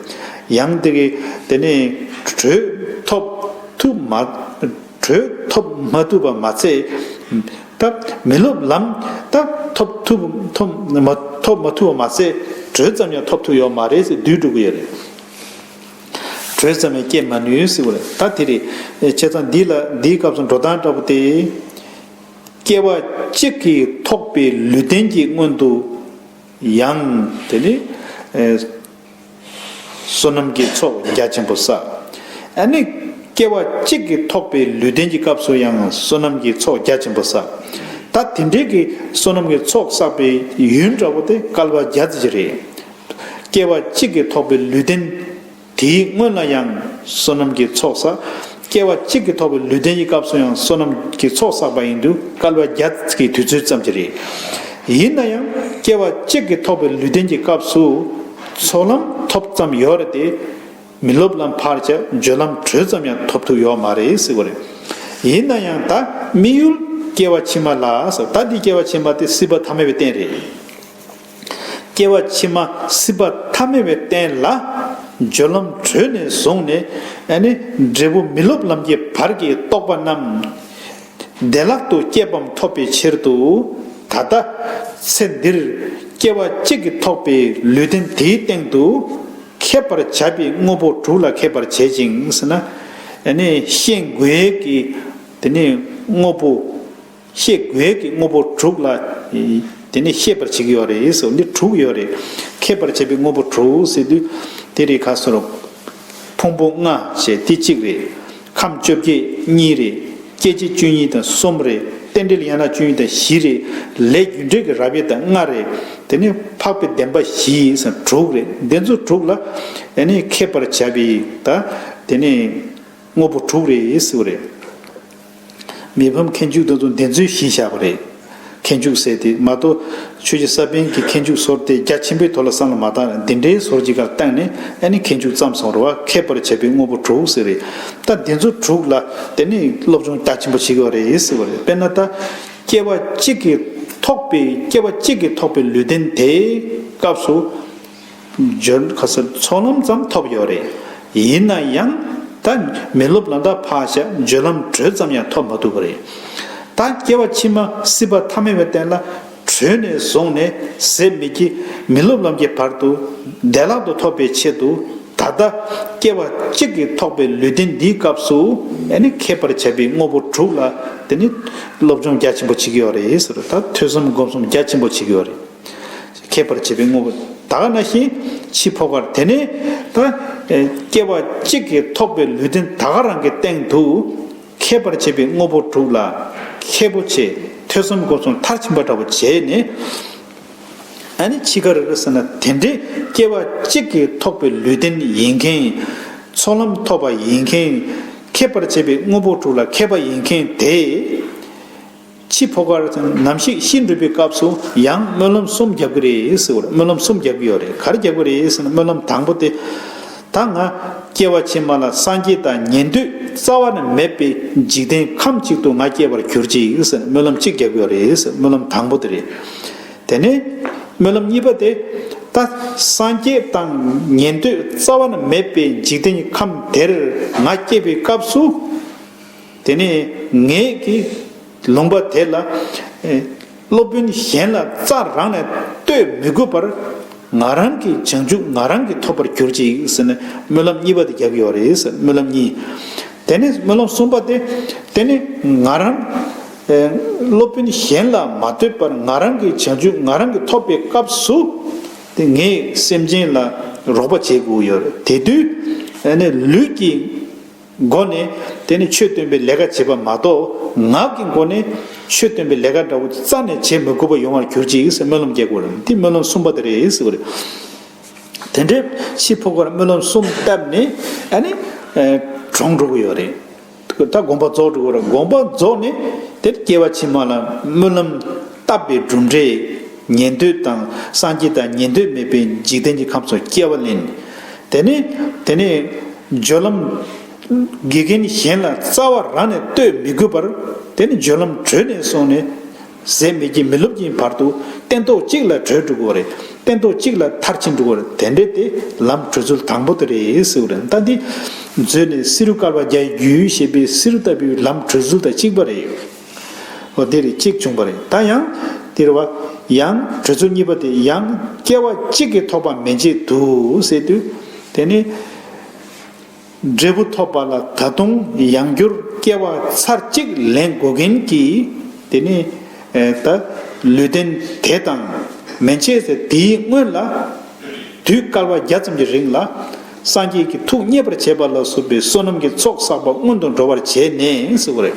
ཡང་དེ་གི་དེ་ནས་གྲོས་ཐོབ་ཐུབ་མ། གྲོས་ཐོབ་མ་ཐུབ་པ་མ་ཚད། ད་མི་སློབ་ལམ་ད་ཐོབ་ཐུབ་ཐོབ་མ་ཐོབ་མ་ཐུབ་པ་མ་ཚད། གྲོས་ཙམ་ཡང་ཐོབ་ཐུབ་ཡོད་མ་རེད་ཟེར་དུས་འགྲོ་གི་ཡོད་རེད། གྲོས་ཙམ་ཡང་བསྐྱེད་མ་ནུས་ཟེར་བ་རེད། ད་དེ་རེད། བྱས་ཙང་འདི་ལ་འདིའི་སྐབས་སུ་འགྲོ་སྟངས་འདྲ་པོ་དེ། སྐྱེ་བ་གཅིག་གིས་ཐོགས་པའི་ལུས་རྟེན་གྱི་སྔོན་དུ། ཡང། དེ་ནི། བསོད་ནམས་ཀྱི་ཚོགས་རྒྱ་ཆེན་པོ་བསགས། ཨ་ནི། སྐྱེ་བ་གཅིག་གིས་ཐོགས་པའི་ལུས་རྟེན་གྱི་སྐབས་སུ་ཡང་བསོད་ནམས་ཀྱི་ཚོགས་རྒྱ་ཆེན་པོ་བསགས། ད་དེ་འདྲའི་གི་བསོད་ནམས་ཀྱི་ཚོགས་བསགས་པའི་ཡུན་འདྲ་བོ་དེ་བསྐལ་པ་བརྒྱ་རྩིས་ཀྱི་རེད། སྐྱེ་བ་གཅིག་གིས་ཐོགས་པའི་ལུས་རྟེན། དེའི་སྔོན་ལ་ཡང་བསོད་ནམས་ཀྱི་ཚོགས་བསགས། སྐྱེ་བ་གཅིག་གིས་ཐོགས་པའི་ལུས་རྟེན་གྱི་སྐབས་སུ་ཡང་བསོད་ནམས་ཀྱི་ཚོགས་བསགས་པ་ཡིན་དུས་སྐལ་བ་བརྒྱ་ཀྱི་དུས་ཚོད་ཙམ་གྱིས་རེད། ཡིན་ན་ཡང་སྐྱེ་བ་གཅིག་གིས་ཐོགས་པའི་ལུས་རྟེན་གྱི་སྐབས་སུ་ཚོགས་ལམ་ཐོབ་ཙམ་ཡོད་རེད་དེ། མི་སློབ་ལམ་བར་བྱ་སྦྱོད་ལམ་དྲོད་ཙམ་ཡང་ཐོབ་ཐུབ་ཡོད་མ་རེད་སྲིད་པ་རེད། ཡིན་ན་ཡང་ད་དམིགས་ཡུལ་སྐྱེ་བ་ཕྱི་མ་ལ་ཟེར་ད་འདི་སྐྱེ་བ་ཕྱི་མ་སྟེ་སྲིད་པ་ཐ་མལ་བའི་རྟེན་རེད། སྐྱེ་བ་ཕྱི་མ་སྲིད་པ་ཐ་མལ་བའི་རྟེན་ལ། སྦྱོར་ལམ་གྲོལ་ནས་བཟུང་ནས་ནི། འབྲས་བུ་མི་སློབ་ལམ་གྱི་བར་གྱི་རྟོག་པ་རྣམས། བདེ་བླག་ཏུ་སྐྱེས་བམ་ཐོབ་པའི་ཕྱིར་དུ། ད་ལྟ། ཚེ་འདིར། སྐྱེ་བ་གཅིག་གིས་ཐོགས་པའི་ལུས་རྟེན་དེའི་སྟེང་དུ། མཁས་པར་བྱ་བའི་དངོས་པོ་དྲུག་ལ་མཁས་པར་བྱེད་ཅིང། ནི། ཤེས་དགོས་ཀྱི། དེ་ནི་དངོས་པོ། ཤེས་དགོས་ཀྱི་དངོས་པོ་དྲུག་ལ། དེ་ནི་ཤེས་པར་བྱེད་ཀྱི་ཡོད་རེད་ཟེར་བ་འདི་དྲུག་ཡོད་རེད། མཁས་པར་བྱེད་པའི་དངོས་པོ་དྲུག་ཟེར་དུས། དེ་རིགས་ཁ་སོར། ཕུང་པོ་ལྔ་ཞེས་དེ་གཅིག་རེད། ཁམས་བཅོ་བརྒྱད་གཉིས་རེད། སྐྱེ་མཆེད་བཅུ་གཉིས་དང་གསུམ་རེད། རྟེན་འབྲེལ་ཡན་ལག་བཅུ་གཉིས་དང་བཞི་རེད། ལས་རྒྱུ་འབྲས་ཀྱི་རབ་དབྱེ་དང་ལྔ་རེད། དེ་ནི་འཕགས་པའི་བདེན་པ་བཞི་ཟེར་དྲུག་རེད། འདི་ཚོ་དྲུག་ལ། ཡེ་ནས་མཁས་པར་བྱ་བའི། དེ་ནི། དངོས་པོ་དྲུག་རེད་ཟེར་བ་རེད། མི་ཕམ་མཁས་འཇུག་དང་དུ་འདེད་མཛོད་བཞིན་བཞག་པ་རེད། མཁས་འཇུག་ཟེར་ཏེ་མ་གཏོགས་ཆོས་རྗེ་ས་པན་གྱི་མཁས་འཇུག་ཟོར་དེ་རྒྱ་ཆེན་པོའི་ཐོག་ལ་བསམ་ལ་མ་བཏང་རན་འདི་འདྲའི་ཟོར་གྱི་གར་བཏང་ནས་ཨ་ནི་མཁས་འཇུག་བརྩམས་སོང་རོ་ཨ་ཁད་པར་བྱས་པའི་དངོས་པོ་དྲུག་ཟེར་རེད་ད་འདི་ཚོ་དྲུག་ལ་དེ་ནི་སློབ་སྦྱོང་རྒྱ་ཆེན་པོ་བྱེད་དགོས་པ་རེད་ཟེར་བ་རེད་དཔེར་ན་ད་སྐྱེ་བ་གཅིག་གིས་ཐོགས་པའི་སྐྱེ་བ་གཅིག་གིས་ཐོགས་པའི་ལུས་རྟེན་དེའི་སྐབས་སུ། སྦྱོར་ཁ་སིལ་ཚོགས་ལམ་ཙམ་ཐོབ་ཡོད་རེད། ཡིན་ན་ཡང་ད་མི་སློབ་ལ་འདའ་ཕག་བྱ་སྦྱོར་ལམ་བགྲོད་ཙམ་ཡང་ཐོབ་མ་ཐུབ་པ་རེད། ད་སྐྱེ་བ་ཕྱི་མ་སྲིད་པ་ཐ་མལ་བའི་སྟན་ལ་བྲོས་ནས་བཟུང་ནས་ཟད་མི་སྐྱེ་མི་སློབ་ལམ་གྱི་བར་དུ་བདེ་བླག་ཏུ་ཐོབ་པའི་ཆེད་དུ་ད་ལྟ་སྐྱེ་བ་གཅིག་གིས་ཐོགས་པའི་ལུས་རྟེན་འདིའི་སྐབས་སུ་མཁས་པར་བྱ་བའི་དངོས་པོ་དྲུག་ལ་སློབ་སྦྱོང་རྒྱ་ཆེན་པོ་བྱེད་ཀྱི་ཡོད་རེད། ད་ཐོས་བསམ་སྒོམ་གསུམ་རྒྱ་ཆེན་པོ་བྱེད་ཀྱི་ཡོད་རེད། ཁེབས་པར་བྱེད་པའི་དངོས་པོ་དག་ན་བཞིན་འཆི་འཕོ་བར་དེ་ནས་ད་སྐྱེ་བ་གཅིག་གིས་ཐོགས་པའི་ལུས་རྟེན་དག་ག་རང་གི་སྟེང་དུ་ཁེབས་པར་བྱེད་པའི་དངོས་པོ་དྲུག་ལ་ཁེབས་པོ་ཆེ་ཐོས་བསམ་སྒོམ་གསུམ་མཐར་ཕྱིན་པ་འདྲ་བོ་བྱས་ནས་ད་ནི་འཆི་ཁར་ཟེར་ན་དེ་འདྲའི་སྐྱེ་བ་གཅིག་གིས་ཐོགས་པའི་ལུས་རྟེན་ཡིན་མཁན་ཚོགས་ལམ་ཐོབ་པ་ཡིན་མཁན་ཁེབས་པར་བྱེད་པའི་དངོས་པོ་དྲུག་ལ་ཁེབས་པ་ཡིན་མཁན་དེ། འཆི་འཕོ་ཁར་ནམ་ཞིག་ཤི་འགྲོ་པའི་སྐབས་སུ་ཡང་སྨོན་ལམ་གསུམ་རྒྱག་གི་རེད་ཟེར་བར་སྨོན་ལམ་གསུམ་རྒྱག་གི་ཡོད་རེད་གར་རྒྱག་གི་རེད་ཟེར་ན་སྨོན་ལམ་དང་པོ་དེ། ད་ང་སྐྱེ་བ་ཕྱི་མ་ལ་སངས་རྒྱས་དང་ཉན་ཐོས་རྩ་བ་ནས་མེད་པའི་འཇིག་རྟེན་ཁམས་གཅིག་ཏུ་ང་སྐྱེ་བར་གྱུར་ཅིག་ཟེར་ན་སྨོན་ལམ་གཅིག་རྒྱག་གི་ཡོད་རེད་ཟེར་སྨོན་ལམ་དང་པོ་དེ་རེད། དེ་ནས་སྨོན་ལམ་གཉིས་པ་དེ། ད་སངས་རྒྱས་དང་ཉན་ཐོས་རྩ་བ་ནས་མེད་པའི་འཇིག་རྟེན་གྱི་ཁམས་དེར་ང་སྐྱེ་བའི་སྐབས་སུ། དེ་ནས་ངས་ཀྱིས་ལུང་པ་དེ་ལ། སློབ་དཔོན་གཞན་ལ་རྩ་རང་ནས་གཏོད་མི་དགོས་པར། ང་རང་གི་བྱང་ཆུབ་ང་རང་གིས་ཐོབ་པར་གྱུར་ཅིག་ཟེར་ནས་སྨོན་ལམ་གཉིས་པ་དེ་རྒྱག་གི་ཡོད་རེད་ཟེར་སྨོན་ལམ་གཉིས། དེ་ནས་སྨོན་ལམ་གསུམ་པ་སྟེ། དེ་ནི་ང་རང། སློབ་དཔོན་གཞན་ལ་མ་ལྟོས་པར་ང་རང་གི་བྱང་ཆུབ་ང་རང་གིས་ཐོབ་པའི་སྐབས་སུ། དེ་ངས་སེམས་ཅན་ལ་རོགས་པ་བྱེད་དགོས་ཡོད་རེད་དེ་དུས། ལུས་ཀྱི། སྒོ་ནས། དེ་ནི་ཆོས་སྟོན་པའི་ལས་ཀ་བྱེད་པ་མ་གཏོགས། ངག་གི་སྒོ་ནས། ཆོས་སྟོན་པའི་ལས་ཀ་འདྲ་བོ་རྩ་ནས་བྱེད་མི་དགོས་པ་ཡོང་བར་གྱུར་ཅིག་སྨོན་ལམ་རྒྱག་དགོས་རེད་འདི་སྨོན་ལམ་གསུམ་པ་དེ་རེད་ཟེར་བ་རེད། དེ་འདྲའི་ཤི་འཕོ་ཁར་སྨོན་ལམ་གསུམ་བཏབ་ནས། ཨ་ནི། གྲོངས་འགྲོ་གི་ཡོད་རེད། ད་དགོངས་པ་རྫོགས་འགྲོ་གི་རེད་དགོངས་པ་རྫོགས་ནས། དེར་སྐྱེ་བ་ཕྱི་མ་ལ་སྨོན་ལམ་བཏབ་པའི་གྲུབ་འབྲས། ཉན་ཐོས་དང་སངས་རྒྱས་དང་ཉན་ཐོས་མེད་པའི་འཇིག་རྟེན་གྱི་ཁམས་སུ་སྐྱེ་བ་ལེན། དེ་ནས་དེ་ནས་སྦྱོར་ལམ། དགེ་རྒན་གཞན་ལ་རྩ་བ་རང་ནས་གཏོད་མི་དགོས་པར། དེ་ནི་སྦྱོར་ལམ་གྲོལ་ནས་སོང་ནས། ཟད་མེད་ཀྱི་མི་སློབ་ཀྱི་བར་དུ་སྟན་ཐོག་གཅིག་ལ་གྲོལ་འགྲོ་དགོས་རེད། སྟན་ཐོག་གཅིག་ལ་མཐར་ཕྱིན་འགྲོ་རེད་དེ་འདྲས་དེ་ལམ་གྲོལ་ཚུལ་དང་པོ་དེ་རེད་ཟེར་བ་རེད་མདའ་འདི། མཛོད་ནས་བསེ་རུ་དཀར་བ་བརྒྱའི་རྒྱུད་ཞེས་པའི་བསེ་རུ་ལྟ་བུའི་ལམ་གྲོལ་ཚུལ་དང་གཅིག་པ་རེད། བ་འདིར་གཅིག་བྱུང་བ་རེད་ད་ཡང། འདིར་བ། ཡང། གྲོས་ཚོགས་གཉིས་པ་དེ་ཡང། སྐྱེ་བ་གཅིག་གིས་ཐོབ་པ་མེད་ཅེས་དུ་ཟེར་དུས། དེ་ནི། འབྲས་བུ་ཐོབ་པ་ལ་ད་དུང་ཡང་བསྒྱུར་སྐྱེ་བ་ཚར་གཅིག་ལེན་དགོས་མཁན་གྱི། དེ་ནི། ད། ལུས་རྟེན་དེ་དང། མན་ཆད་ཟེར་དེའི་སྔོན་ལ། དུས་སྐལ་བ་བརྒྱ་ཙམ་གྱི་རིང་ལ། སངས་རྒྱས་ཀྱི་ཐུགས་མཉེས་པར་བྱས་པ་ལ་བསྲུབས་པའི་བསོད་ནམས་ཀྱི་ཚོགས་བསགས་པ་སྔོན་དུ་འགྲོ་བར་བྱས་ནས་ཟེར་བ་རེད།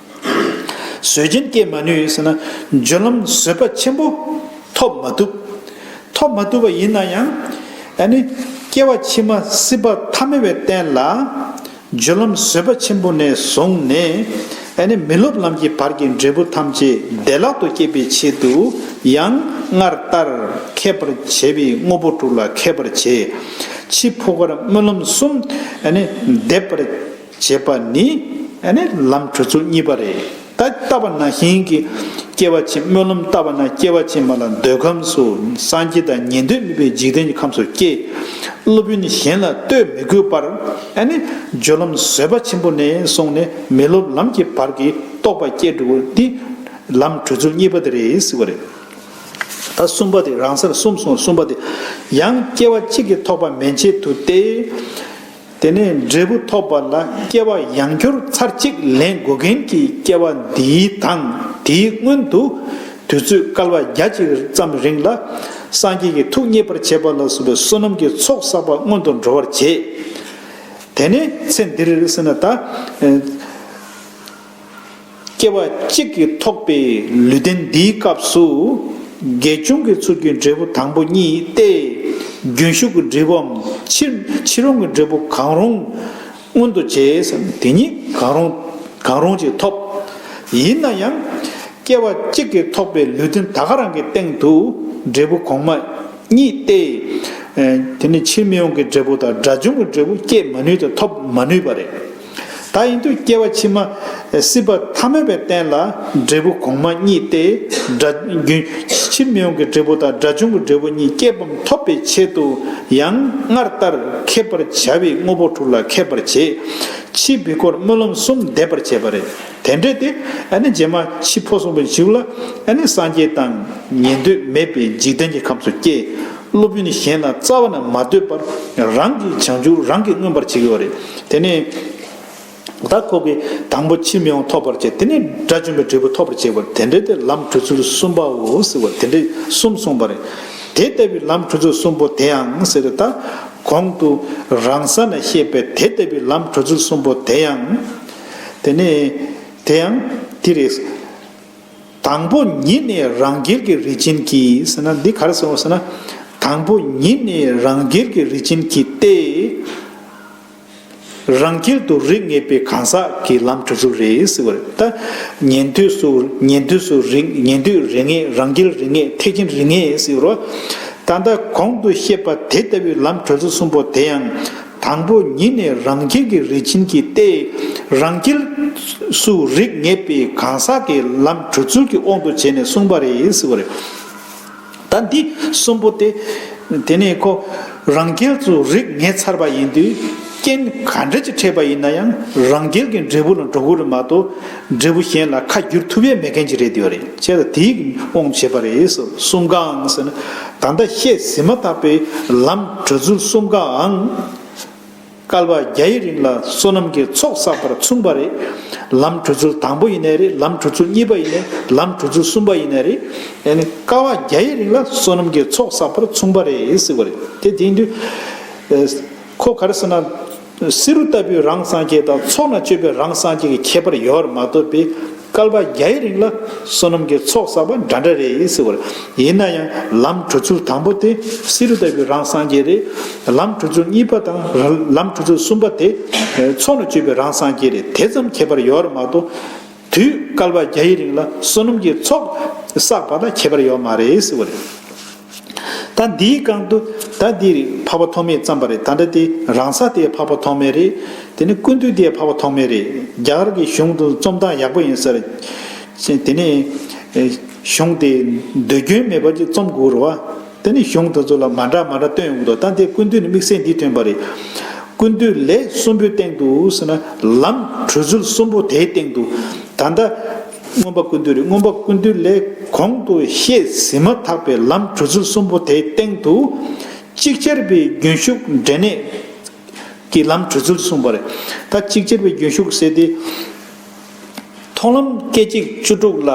བཟོད་ཅིང་བསྐྱེད་མ་ནུས་ཟེར་ན། འབྱོན་ལམ་བཟོད་པ་ཆེན་པོ་ཐོབ་མ་བཏུབ། ཐོབ་མ་བཏུབ་པ་ཡིན་ན་ཡང། ཨ་ནི། སྐྱེ་བ་ཕྱི་མ་སྲིད་པ་ཐ་མལ་བའི་རྟེན་ལ། འབྱོན་ལམ་བཟོད་པ་ཆེན་པོ་ནས་བཟུང་ནས། ཨ་ནི་མི་སློབ་ལམ་གྱི་བར་གྱི་འབྲས་བུ་ཐམས་ཅད་བདེ་བླག་ཏུ་བསྐྱེད་པའི་ཆེད་དུ་ཡང་སྔར་ལྟར་མཁས་པར་བྱས་པའི་དངོས་པོ་དྲུག་ལ་མཁས་པར་བྱས། འཆི་འཕོ་བར་སྨོན་ལམ་གསུམ། ཨ་ནི། འདེབས་པར། བྱེད་པ་ནི། ལམ་གྲོལ་ཚུལ་གཉིས་པ་རེད། ད་ལྟ་བ་ན་ཞིང་གི་སྐྱེ་བ་ཆེན་མོ་ལམ་ལྟ་བ་ན་སྐྱེ་བ་ཆེན་མོ་ལ་འདོད་ཁམས་སུ་སངས་རྒྱས་དང་ཉན་ཐོས་མིན་པའི་འཇིག་རྟེན་གྱི་ཁམས་སུ་སྐྱེ། སློབ་དཔོན་གཞན་ལ་ལྟོས་མི་དགོས་པར། སྦྱོར་ལམ་བཟོད་པ་ཆེན་པོ་ནས་བཟུང་ནས་མི་སློབ་ལམ་གྱི་བར་གྱི་རྟོགས་པ་སྐྱེ་འགྲོ་བ་འདི། ལམ་གྲོལ་ཚུལ་གཉིས་པ་དེ་རེད་ཟེར་བ་རེད། ད་གསུམ་པ་དེ་རང་སར་གསུམ་སོང་གསུམ་པ་དེ་ཡང་སྐྱེ་བ་གཅིག་གིས་ཐོགས་པ་མན་ཆད་དུ་སྟེ། དེ་ནས་འབྲས་བུ་ཐོབ་པ་ལ་སྐྱེ་བ་ཡང་འཁྱོར་ཚར་གཅིག་ལེན་དགོས་མཁན་གྱི་སྐྱེ་བ་འདིའི་དང་དེའི་སྔོན་དུ། དུས་ཚོད་སྐལ་བ་བརྒྱ་གཅིག་ཙམ་རིང་ལ། སངས་རྒྱས་ཀྱི་ཐུགས་མཉེས་པར་བྱེད་པ་ལ་སོགས་པའི་བསོད་ནམས་ཀྱི་ཚོགས་བསགས་པ་སྔོན་དུ་འགྲོ་བར་བྱེད། དེ་ནས་ཚེ་འདིར་སེར་སྣ་དང། སྐྱེ་བ་གཅིག་གིས་ཐོགས་པའི་ལུས་རྟེན་འདིའི་སྐབས་སུ། དགེ་སྦྱོང་གི་ཚུལ་གྱི་འབྲས་བུ་དང་པོ་གཉིས་ཏེ། རྒྱུན་ཞུགས་ཀྱི་འབྲས་བུའམ་ཕྱིར་འོང་གི་འབྲས་བུ་གང་རུང་མངོན་དུ་བྱས་སམ་དེ་གཉིས་གང་རུང་གང་རུང་ཅིག་ཐོབ། ཡིན་ན་ཡང། སྐྱེ་བ་གཅིག་གིས་ཐོགས་པའི་ལུས་རྟེན་ད་ག་རང་གི་སྟེང་དུ་འབྲས་བུ་གོང་མ་གཉིས་ཏེ། དེ་ནི་ཕྱིར་མི་འོང་གི་འབྲས་བུ་དང་དགྲ་བཅོམ་གྱི་འབྲས་བུ་སྐྱེད་མ་ནུས་ཏེ་ཐོབ་མ་ནུས་པ་རེད། ད་ཡིན་དུས་སྐྱེ་བ་ཕྱི་མ། སྲིད་པ་མཐའ་མེད་པའི་རྟེན་ལ་འབྲས་བུ་གོང་མ་གཉིས་ཏེ། སྒྲ། རྒྱུན། ཕྱིར་མི་འོང་གི་འབྲས་བུ་དང་སྒྲ་བྱུང་གི་འབྲས་བུ་གཉིས་སྐྱེས་བམ་ཐོབ་པའི་ཆེད་དུ་ཡང་སྔར་ལྟར་ཁེབས་པར་བྱ་བའི་དངོས་པོ་དྲུག་ལ་ཁེབས་པར་བྱེད། ཕྱིས་བི་ཀོར་སྨོན་ལམ་གསུམ་བཟླས་པར་བྱས་པ་རེད། དེ་འདྲས་ཏེ། རྗེས་མ་འཆི་འཕོ་གསུམ་པོ་འཇུག་ལ། སངས་རྒྱས་དང། ཉན་ཐོས་མེད་པའི་འཇིག་རྟེན་གྱི་ཁམས་སུ་སྐྱེ། སློབ་དཔོན་ནི་གཞན་ལ་རྩ་བ་ནས་མ་ལྟོས་པར་རང་གི་བྱང་ཆུབ་རང་གིས་མངོན་པར་བྱེད་དགོས་པ་རེད། དེ་ནས་ད་ཁོ་གིས་དང་པོ་ཕྱིར་མི་འོང་ཐོབ་པར་བྱེད་དེ་ནས་དགྲ་བཅོམ་པའི་འབྲས་བུ་ཐོབ་པར་བྱེད་པར་དེ་འདྲའི་དེར་ལམ་གྲུ་ཚུལ་གསུམ་པའོ་ཟེར་བ་དེ་འདྲའི་གསུམ་གསུངས་པ་རེད། དེ་ལྟ་བུའི་ལམ་གྲུ་ཚུལ་གསུམ་པོ་དེའང་ཟེར་ཏེ་ད་གོང་དུ་རང་ས་ན་བཤད་པའི་དེ་ལྟ་བུའི་ལམ་གྲུ་ཚུལ་གསུམ་པོ་དེའང། དེ་ནས་དེའང་དེ་རེད། དང་པོ་ཉིད་ནི་རང་རྒྱལ་གྱི་རི་བྱིན་གྱིས་ཟེར་ན་འདི་གར་ཟེར་བ་ཟེར་ན། དང་པོ་ཉིད་ནི་རང་རྒྱལ་གྱི་རི་བྱིན་གྱིས་ཏེ། རང་རྒྱལ་དུ་རིགས་ངེས་པའི་གང་ཟག་གི་ལམ་དྲུག་དྲུག་རེ་ཟེར་བ་རེད་ད། ཉན་ཐོས་སུ་ཉན་ཐོས་སུ་རིགས་ཉན་ཐོས་རིགས་ངེས་རང་རྒྱལ་རིགས་ངེས་ཐེག་ཆེན་རིགས་ངེས་ཟེར་བ། ད་ལྟ་གོང་དུ་བཤད་པ་དེ་ལྟ་བུའི་ལམ་གྲོལ་ཚུལ་གསུམ་པོ་དེ་ཡང། དང་པོ་ཉིད་ནས་རང་རྒྱལ་གྱི་རིས་ཆེན་གྱི་ལྟས་རང་རྒྱལ། སུ་རིགས་ངེས་པའི་གང་ཟག་གི་ལམ་གྲོལ་ཚུལ་གྱི་དབང་དུ་བྱས་ནས་གསུངས་པ་རེད། ད་འདི་གསུམ་པོ་སྟེ། དེ་ནས་ཁོ་རང་རྒྱལ་སུ་རིགས་ངེས་ཚར་བ་ཡིན་དུས་རྐྱེན་ག་འདྲ་ཅི་འཕྲད་པ་ཡིན་ན་ཡང་རང་རྒྱལ་གྱི་འབྲས་བུ་ལ་འགྲོ་དགོས་རེད་མ་གཏོགས་འབྲས་བུ་གཞན་ལ་ཁ་བསྒྱུར་ཐུབ་ཡས་མེད་མཁན་གྱི་རེད་འདོད་རེད་ཅེས་ལ་དེའི་དབང་བྱེད་པ་རེད་གསུམ་གའང་ཟེར་ན་ད་ལྟ་བཤད་ཟིན་མ་ཐག་པའི་ལམ་གྲོལ་ཚུལ་གསུམ་གའང་བསྐལ་པ་བརྒྱ་ཡི་རིང་ལ་བསོད་ནམས་ཀྱི་ཚོགས་བསགས་པར་མཚུངས་པ་རེད། ལམ་གྲོལ་ཚུལ་དང་པོ་ཡིན་ནའི་རེད་ལམ་གྲོལ་ཚུལ་གཉིས་པ་ཡིན་ནའི་ལམ་གྲོལ་ཚུལ་གསུམ་པ་ཡིན་ནའི་རེད་ཡ་ནི་བསྐལ་བ་བརྒྱ་ཡི་རིང་ལ་བསོད་ནམས་ཀྱི་ཚོགས་བསགས་པར་མཚུངས་པ་རེད་ཟེར་བ་རེད་དེ་དེ་ཡིན་དུས། ཁོ་ག་རེ་ཟེར་ན། བསེ་རུ་ལྟ་བུའི་རང་སངས་རྒྱས་དང་ཚོགས་ན་སྤྱོད་པའི་རང་སངས་རྒྱས་ཀྱི་ཁྱད་པར་ཡལ་བར་མ་ཐོབ་པའི་སྐལ་པ་བརྒྱའི་རིང་ལ་བསོད་ནམས་ཀྱི་ཚོགས་བསགས་པ་འདྲ་འདྲ་རེད་ཟེར་བར། ཡིན་ན་ཡང་ལམ་གྲུ་ཚུལ་དང་པོ་དེ་བསེ་རུ་ལྟ་བུའི་རང་སངས་རྒྱས་རེད། ལམ་གྲུ་ཚུལ་གཉིས་པ་དང་ལམ་གྲུ་ཚུལ་གསུམ་པ་དེ་ཚོགས་ན་སྤྱོད་པའི་རང་སངས་རྒྱས་རེད་དེ་ཙམ་ཁྱད་པར་ཡལ་བར་མ་ཐོབ། དུས་བསྐལ་པ་བརྒྱ་ཡི་རིང་ལ་བསོད་ནམས་ཀྱི་ཚོགས་བསགས་པ་དང་ཁྱད་པར་ཡོད་མ་རེད་ཟེར་བ་རེད། ད་འདིའི་སྒང་དུ་ད་འདི་རིགས་འཕགས་པ་ཐོགས་མེད་བརྩམས་པ་རེད་ད་འདྲ་དེ་རང་ས་དེ་འཕགས་པ་ཐོགས་མེད་རེད་དེ་ནས་ཀུན་འདུས་དེ་འཕགས་པ་ཐོགས་མེད་རེད་རྒྱ་གར་གྱི་གཞུང་དུ་རྩོམ་སྟངས་ཡག་པོ་ཡིན་ཟེར། དེ་ནས། གཞུང་དེ་འདོད་སྐྱོན་མེད་པར་གྱི་རྩོམ་དགོས་རུ་བ། འདི་ནི་གཞུང་དེ་ཚོ་ལ་མ་འདྲ་མ་འདྲ་སྟོན་ཡོང་གི་འདུག་ད་འདིའི་ཀུན་བཏུས་ནི་དམིགས་བསལ་འདིས་ཐོན་པ་རེད། ཀུན་བཏུས་ལས་གསུམ་པོའི་སྟེང་དུ་ཟེར་ན་ལམ་གྲོལ་ཚུལ་གསུམ་པོ་དེའི་སྟེང་དུ། ད་ལྟ། མངོན་པ་ཀུན་བཏུས་རེད་མངོན་པ་ཀུན་བཏུས་ལས་གོང་དུ་བཤད་ཟིན་མ་ཐག་པའི་ལམ་གྲོལ་ཚུལ་གསུམ་པོ་དེའི་སྟེང་དུ། གཅིག་ཆར་པའི་རྒྱུན་ཞུགས་འབྲས་གནས་ཀྱི་ལམ་གྲོལ་ཚུལ་གསུངས་པ་རེད། ད་གཅིག་ཆར་པའི་རྒྱུན་ཞུགས་ཟེར་ཏེ། མཐོང་ལམ་སྐད་ཅིག་བཅུ་དྲུག་ལ་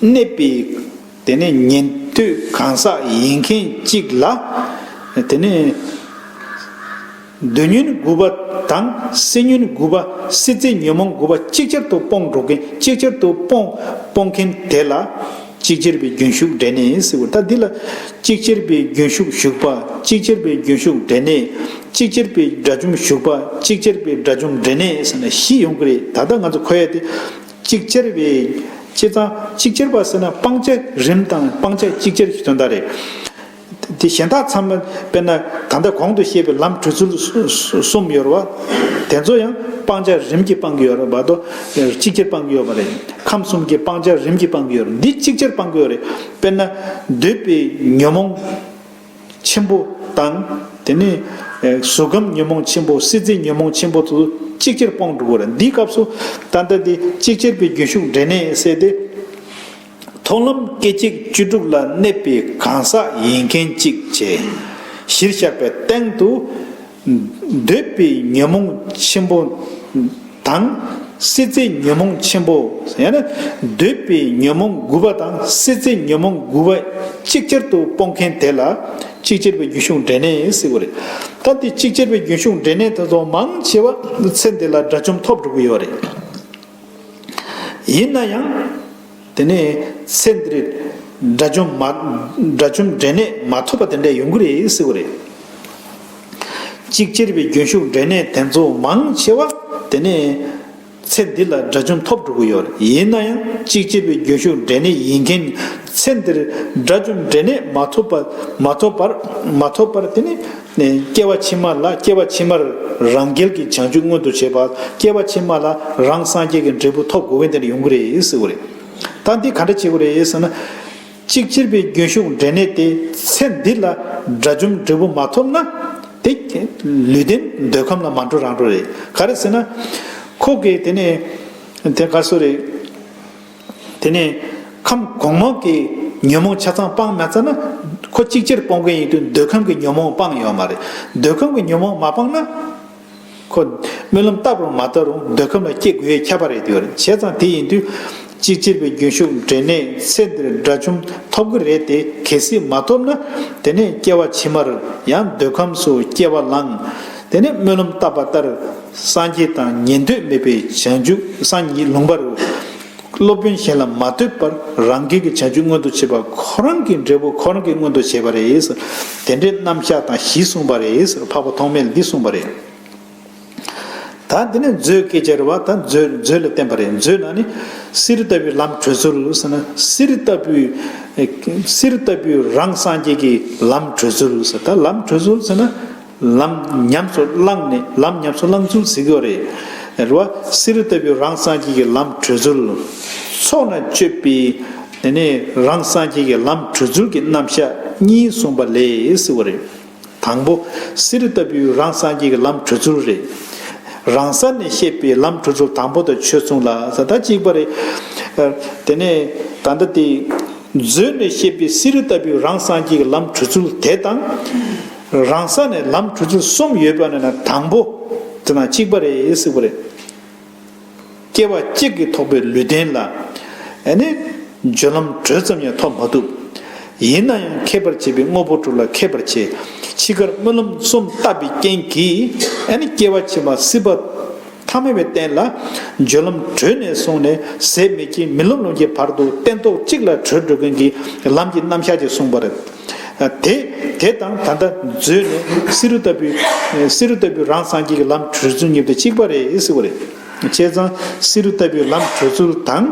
གནས་པའི། དེ་ནས་ཉན་ཐོས་གང་ཟག་ཡིན་མཁན་གཅིག་ལ། དེ་ནས། བདུད་ཉོན་དགུ་པ་དང་སྲི་ཉོན་དགུ་པ་སྲི་རྩེ་ཉོན་མོངས་དགུ་པ་གཅིག་ཆར་དུ་སྤོང་འགྲོ་མཁན་གཅིག་ཆར་དུ་སྤོང་སྤོང་མཁན་དེ་ལ། གཅིག་ཅེར་བའི་རྒྱུན་ཞུགས་འབྲས་གནས་ཟེར་བ་ལྟར་འདི་ལ། གཅིག་ཅེར་བའི་རྒྱུན་ཞུགས་ཞུགས་པ་གཅིག་ཅེར་བའི་རྒྱུན་ཞུགས་འབྲས་གནས། གཅིག་ཅེར་བའི་དགྲ་བཅོམ་ཞུགས་པ་གཅིག་ཅེར་བའི་དགྲ་བཅོམ་འབྲས་གནས་ཟེར་ན་གཞི་ཡོང་གི་རེད་ད་ལྟ་ང་ཚོ་གོ་ཡ་དེ། གཅིག་ཅར་བའི། སྤྱི་གཙང། གཅིག་ཅར་བ་ཟེར་ན་སྤང་བྱ་རིམ་དང་སྤང་བྱ་གཅིག་ཅར་གྱི་དོན་དག་རེད། དེ་གཞན་དག་ཚང་མ་དཔེར་ན་ད་ལྟ་གོང་དུ་བཤད་པའི་ལམ་གྲོལ་ཚུལ་གསུམ་ཡོད་རེད་བ། དེ་ཚོ་ཡང་སྤང་བྱ་རིམ་གྱིས་སྤང་གི་ཡོད་རེད་བ་དོ། གཅིག་ཅར་སྤང་གི་ཡོད་བ་རེད། ཁམས་གསུམ་གྱི་སྤང་བྱ་རིམ་གྱིས་སྤང་གི་ཡོད་རེད་འདི་གཅིག་ཅར་སྤང་གི་ཡོད་རེད། དཔེར་ན། འདོད་པའི་ཉོན་མོངས། ཆེན་པོ་དང། དེ་ནས། གཟུགས་ཁམས་ཉོན་མོངས་ཆེན་པོ་སྲིད་རྩེའི་ཉོན་མོངས་ཆེན་པོ་དུ་གཅིག་ཅེར་སྤངས་འགྲུབ་བོ། འདིའི་སྐབས་སུ། ད་ལྟ་དེ་གཅིག་ཅེར་པའི་རྒྱུན་ཞུགས་འབྲས་གནས་གསལ་ཏེ། མཐོང་ལམ་སྐད་ཅིག་བཅུ་དྲུག་ལ་གནས་པའི་གང་ཟག་ཡིན་མཁན་གཅིག་བྱས། གཞིར་བཞག་པའི་སྟེང་དུ། འདོད་པའི་ཉོན་མོངས་ཆེན་པོ་དང། སྲིད་རྩེའི་ཉོན་མོངས་ཆེན་པོ། ཡང་ན་འདོད་པའི་ཉོན་མོངས་དགུ་པ་དང་སྲིད་རྩེའི་ཉོན་མོངས་དགུ་པ་གཅིག་ཅར་དུ་སྤོང་མཁན་དེ་ལ་གཅིག་ཅར་བའི་རྒྱུན་ཞུགས་འབྲས་གནས་སྲིད་པ་རེད། ད་འདི་གཅིག་ཅར་བའི་རྒྱུན་ཞུགས་འབྲས་གནས་དེ་ཚོ་མང་ཆེ་བ་ཚེ་འདི་ལ་དགྲ་བཅོམ་ཐོབ་འགྲོ་གི་ཡོད་རེད། ཡིན་ན་ཡང། དེ་ནས་ཚེ་འདིར་དགྲ་བཅོམ་དགྲ་བཅོམ་འབྲས་གནས་མ་ཐོབ་པ་དེ་འདྲའི་ཡོང་གི་རེད་ཟེར་གི་རེད། གཅིག་གཅེར་བའི་རྒྱུན་ཞུགས་འབྲས་གནས་དེ་ཚོ་མང་ཆེ་བ་དེ་ནས་ཚེ་འདི་ལ་དགྲ་བཅོམ་ཐོབ་འགྲོ་གི་ཡོད་རེད་ཡིན་ན་ཡང་གཅིག་གཅེར་བའི་རྒྱུན་ཞུགས་འབྲས་གནས་ཡིན་མཁན་ཚེ་འདིར་དགྲ་བཅོམ་འབྲས་གནས་མ་ཐོབ་པ་མ་ཐོབ་པར་མ་ཐོབ་པར་དེ་ནས། ནས། སྐྱེ་བ་ཕྱི་མ་ལ་སྐྱེ་བ་ཕྱི་མར་རང་རྒྱལ་གྱི་བྱང་ཆུབ་མངོན་དུ་བྱེད་པ་སྐྱེ་བ་ཕྱི་མ་ལ་རང་སངས་རྒྱས་ཀྱི་འབྲས་བུ་ཐོབ་དགོས་བས་འདིར་ཡོང་གི་རེད་ཟེར་བ་རེད། ད་འདི་ག་འདྲ་བྱེད་དགོས་རེད་ཟེར་ན། གཅིག་སྤྱིར་པའི་རྒྱུན་ཞུགས་འབྲས་གནས་ཏེ་ཚེ་འདི་ལ་དགྲ་བཅོམ་འབྲས་བུ་མ་ཐོབ་ན། དེ། ལུས་རྟེན་འདོད་ཁམས་ལ་མ་འགྲོ་རང་འགྲོ་རེད། ག་རེ་ཟེར་ན། ཁོ་གིས་དེ་ནས། དེ་ག་སོ་རེད། དེ་ནས་ཁམས་གོང་མ་གི་ཉོན་མོངས་ཆ་ཚང་སྤངས་མ་ཚར་ན། ཁོ་གཅིག་ཕྱིར་སྤོང་མཁན་ཡིན་དུས་འདོད་ཁམས་ཀྱི་ཉོན་མོངས་སྤངས་ཡོད་མ་རེད། འདོད་ཁམས་ཀྱི་ཉོན་མོངས་མ་སྤངས་ན། ཁོ་སྨོན་ལམ་བཏབ་རུང་མ་བཏབ་རུང་འདོད་ཁམས་ལ་སྐྱེ་དགོས་ཁྱད་པར་རེད་དེ་བར་བྱས་ཙང་དེ་ཡིན་དུས། གཅིག་ཕྱིར་པའི་རྒྱུན་ཞུགས་འབྲས་གནས་ཚེ་འདིར་དགྲ་བཅོམ་ཐོབ་གི་རེད་དེ་གལ་སྲིད་མ་ཐོབ་ན། དེ་ནས་སྐྱེ་བ་ཕྱི་མར་ཡང་འདོད་ཁམས་སུ་སྐྱེ་བ་ལངས། དེ་ནས་སྨོན་ལམ་བཏབ་པ་ལྟར་སངས་རྒྱས་དང་ཉན་ཐོས་མེད་པའི་བྱང་ཆུབ་སངས་ཉིད་ལུང་པར་སློབ་དཔོན་གཞན་ལ་མ་ལྟོས་པར་རང་འགན་གྱི་བྱང་ཆུབ་མངོན་དུ་བྱེད་པ་ཁོ་རང་གི་འབྲས་བུ་ཁོ་རང་གིས་མངོན་དུ་བྱས་པ་རེད། དེ་འདྲའི་རྣམ་གཞག་དང་བཞི་གསུངས་པ་རེད། འཕགས་པ་ཐོགས་མེད་འདི་གསུངས་པ་རེད། ད་དེ་ནས་མཛོད་སྐད་ཅེས་པ་ད་མཛོད་ལ་བརྟེན་པ་རེད། མཛོད་ནང་ནས་གསེར་ལྟ་བུའི་ལམ་བགྲོད་ཚུལ་ཟེར་ན་གསེར་ལྟ་བུའི་གསེར་ལྟ་བུའི་རང་སངས་རྒྱས་ཀྱི་ལམ་བགྲོད་ཚུལ་ཟེར། ད་ལམ་བགྲོད་ཚུལ་ཟེར་ན། ལམ་ཉམས་སུ་བླངས་ནས་ལམ་ཉམས་སུ་བླངས་ཚུལ་གཟིགས་པ་རེད། རེ་བ་བསིལ་རི་ལྟ་བུའི་རང་སངས་རྒྱས་ཀྱི་ལམ་བགྲོད་ཚུལ། ཚོགས་ན་སྤྱོད་པའི་དེ་ནས་རང་སངས་རྒྱས་ཀྱི་ལམ་བགྲོད་ཚུལ་གྱི་རྣམ་གཞག་གཉིས་གསུངས་པ་ལས་གཟིགས་པ་རེད། དང་པོ་བསིལ་རི་ལྟ་བུའི་རང་སངས་རྒྱས་ཀྱི་ལམ་བགྲོད་ཚུལ་རེད། རང་ས་ནས་བཤད་པའི་ལམ་བགྲོད་ཚུལ་དང་པོ་དང་ཆོས་མཚུངས་ལ་ས་ད་གཅིག་པ་རེད། དེ་ནས་ད་ལྟ་དེ། མཛོད་ནས་བཤད་པའི་བསིལ་རི་ལྟ་བུའི་རང་སངས་རྒྱས་ཀྱི་ལམ་བགྲོད་ཚུལ་དེ་དང། རང་ས་ནས་ལམ་གྲུ་ཚུལ་གསུམ་ཡོད་པ་ནས་ན་དང་པོ་དེ་ན་གཅིག་པ་རེད་སིག་པ་རེད། སྐྱེ་བ་གཅིག་གིས་ཐོགས་པའི་ལུས་རྟེན་ལ་ནི་སྦྱོར་ལམ་དྲོད་ཙམ་ཡང་ཐོབ་མ་ཐུབ། ཡིན་ན་ཡང་མཁས་པར་བྱས་པའི་དངོས་པོ་དྲུག་ལ་མཁས་པར་བྱས་འཆི་ཁར་སྨོན་ལམ་གསུམ་བཏབ་པའི་རྐྱེན་གྱིས་ནི་སྐྱེ་བ་ཕྱི་མ་སྲིད་པ་ཐ་མལ་བའི་རྟེན་ལ་སྦྱོར་ལམ་དྲོད་ནས་བཟུང་ནས་ཟད་མེད་ཀྱི་མི་ལོ་ལོན་གྱི་བར་དུ་སྟན་ཐོག་གཅིག་ལ་བྲོས་འགྲོ་མཁན་གྱི་ལམ་གྱི་རྣམ་གཞག་ཅིག་གསུངས་པ་རེད། དེ་དེ་དང་ད་ལྟ་མཛོད་ནས་བསེ་རུ་ལྟ་བུའི། བསེ་རུ་ལྟ་བུའི་རང་སངས་རྒྱས་ཀྱི་ལམ་བགྲོད་ཚུལ་གཉིས་ཏེ་གཅིག་པ་རེ་ཟེར་བ་རེད། བྱས་ཙང་བསེ་རུ་ལྟ་བུའི་ལམ་བགྲོད་ཚུལ་དང།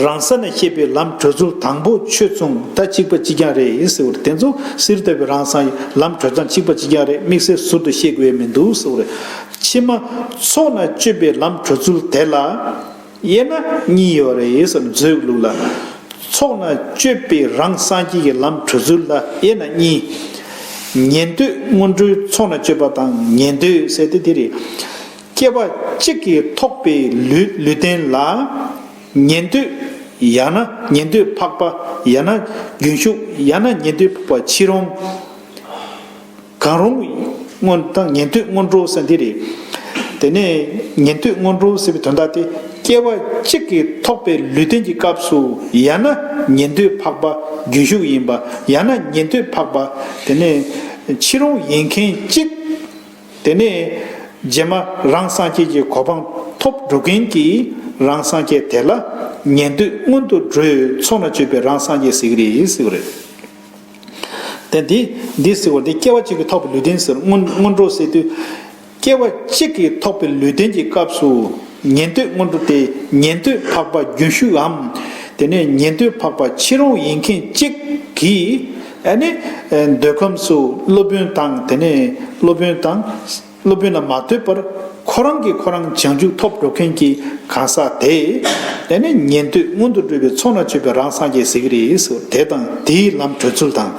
རང་ས་ནས་ཤེས་པའི་ལམ་བགྲོད་ཚུལ་དང་པོ་ཆོས་མཚུངས་ད་གཅིག་པ་གཅིག་རྐྱང་རེད་ཟེར་བ་རེད་དེ་ཚོ་བསེ་རུ་ལྟ་བུའི་རང་སངས་ཀྱི་ལམ་བགྲོད་ཙང་གཅིག་པ་གཅིག་རྐྱང་རེད་དམིགས་བསལ་ཟུར་དུ་ཤེས་དགོས་ཡ་མི་འདུག་ཟེར་བ་རེད། ཕྱི་མ། ཚོགས་ན་སྤྱོད་པའི་ལམ་བགྲོད་ཚུལ་དེ་ལ། དབྱེ་ན་གཉིས་ཡོད་རེད་བསམ་ཚུལ་ལུགས་ལ། ཚོགས་ནང་སྤྱོད་པའི་རང་གསང་སྐྱིད་ཀྱི་ལམ་གྲོལ་ཚུལ་ལ་དབྱེ་ན་གཉིས། ཉན་ཐོས་སྔོན་འགྲོའི་ཚོགས་ནང་སྤྱོད་པ་དང་ཉན་ཐོས་ཟེར་ཏེ་དེ་རེད། སྐྱེ་བ་གཅིག་གིས་ཐོགས་པའི་ལུས་ལུས་རྟེན་ལ། ཉན་ཐོས་ཡང་ན་ཉན་ཐོས་འཕགས་པ་ཡང་ན་རྒྱུན་ཞུགས་ཡང་ན་ཉན་ཐོས་འཕགས་པ་ཕྱིས་རུང། གང་རུང་སྔོན་དང་ཉན་ཐོས་སྔོན་འགྲོ་ཟེར་འདི་རེད། དེ་ནས་ཉན་ཐོས་སྔོན་འགྲོ་ཟེར་བའི་དོན་དག་དེ་སྐྱེ་བ་གཅིག་གིས་ཐོགས་པའི་ལུས་རྟེན་གྱི་སྐབས་སུ་ཡང་ན་ཉན་ཐོས་འཕགས་པ་རྒྱུན་ཞུགས་ཡིན་པ་ཡང་ན་ཉན་ཐོས་འཕགས་པ་དེ་ནས་ཕྱི་རོང་ཡིན་མཁན་གཅིག་དེ་ནས་རྗེས་མ་རང་སངས་རྒྱས་ཀྱི་གོ་འཕང་ཐོབ་འགྲོ་མཁན་གྱི་རང་སངས་རྒྱས་དེ་ལ་ཉན་ཐོས་སྔོན་དུ་འགྲོའི་ཚོགས་ན་སྤྱོད་པའི་རང་སངས་རྒྱས་ཟེར་གྱི་རེད་ཟེར་བ་རེད། དེ་འདི་འདི་ཟེར་བ་འདི་སྐྱེ་བ་གཅིག་གིས་ཐོགས་པའི་ལུས་རྟེན་ཟེར་རོ་སྔོན་སྔོན་འགྲོ་ཟེར་དུས། སྐྱེ་བ་གཅིག་གིས་ཐོགས་པའི་ལུས་རྟེན་གྱི་སྐབས་སུ། ཉན་ཐོས་སྔོན་འགྲོ་དེ་ཉན་ཐོས་འཕགས་པ་རྒྱུན་ཞུགས་འམ། དེ་ནས་ཉན་ཐོས་འཕགས་པ་ཕྱི་རོལ་ཡིན་མཁན་གཅིག་གིས། ཨ་ནི། འདོད་ཁམས་སུ་སློབ་དཔོན་དང་དེ་ནས་སློབ་དཔོན་དང། སློབ་དཔོན་ལ་མ་ལྟོས་པར་ཁོ་རང་གིས་ཁོ་རང་བྱང་ཆུབ་ཐོབ་འགྲོ་མཁན་གྱི་གང་ཟག་དེ། དེ་ནས་ཉན་ཐོས་སྔོན་དུ་འགྲོ་བའི་ཚོགས་ན་ཆོས་པའི་རང་སངས་རྒྱས་ཟེར་གྱི་རེད་ཟེར་བ་དེ་དང་དེའི་ལམ་བགྲོད་ཚུལ་དང།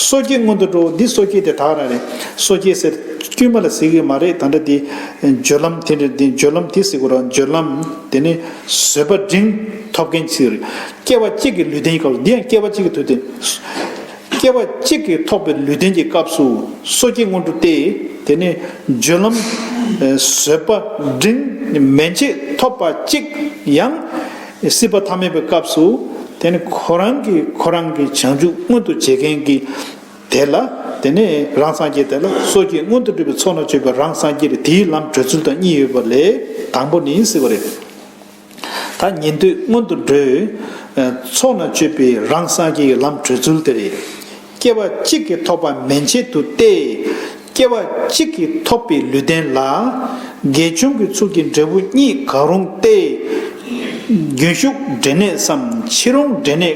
སོ་སྐྱེ་སྔོན་དུ་འགྲོ་བ་འདི་སོ་སྐྱེ་དེ་དག་རང་རེད་སོ་སྐྱེ་ཟེར་དཀྱུས་མ་ལ་ཟེར་གྱི་མ་རེད་ད་འདྲ་དེ། སྦྱོར་ལམ་དེ་འདྲ་དེ་སྦྱོར་ལམ་དེ་ཟེར་གོ་རང་སྦྱོར་ལམ་དེ་ནི་བཟོད་པ་འབྲིང་ཐོབ་མཁན་ཚོའི་རེད་སྐྱེ་བ་གཅིག་གི་ལུས་རྟེན་ཡིན་ཁ་ལོ་འདི་ཡང་སྐྱེ་བ་གཅིག་གི་དུས་དེ། སྐྱེ་བ་གཅིག་གིས་ཐོགས་པའི་ལུས་རྟེན་གྱི་སྐབས་སུ་སོ་སྐྱེ་སྔོན་འགྲོ་སྟེ། དེ་ནས་སྦྱོར་ལམ། བཟོད་པ། འབྲིང། མན་ཆད་ཐོབ་པ་གཅིག། ཡང། སྲིད་པ་ཐ་མལ་པའི་སྐབས་སུ། དེ་ནི་ཁོ་རང་གིས་ཁོ་རང་གི་བྱང་ཆུབ་མངོན་དུ་བྱེད་མཁན་གྱི། དེ་ལ། དེ་ནས་རང་སངས་རྒྱས་དེ་ལ་སོ་སྐྱེ་སྔོན་དུ་འགྲོ་བའི་ཚོགས་ན་སྤྱོད་པའི་རང་སངས་རྒྱས་ལས་དེའི་ལམ་བགྲོད་ཚུལ་དང་གཉིས་ཡོད་པ་ལས་དང་པོ་ནི་སྲིད་པ་རེད། ད་ཉན་ཐོས་སྔོན་དུ་འགྲོའི། ཚོགས་རྣམས་སྤྱོད་པའི་རང་སངས་རྒྱས་ཀྱི་ལམ་བགྲོད་ཚུལ་དེ་རེད། སྐྱེ་བ་གཅིག་གིས་ཐོབ་པ་མན་ཆད་དུ་སྟེ། སྐྱེ་བ་གཅིག་གིས་ཐོབ་པའི་ལུས་ལྡན་ལ། དགེ་སྦྱོང་གི་ཚུལ་གྱིས་འབྲས་བུ་གཉིས་ག་རུང་སྟེ། རྒྱུན་ཞུགས་འབྲས་གནས་སམ་ཕྱི་རུང་འབྲས་གནས།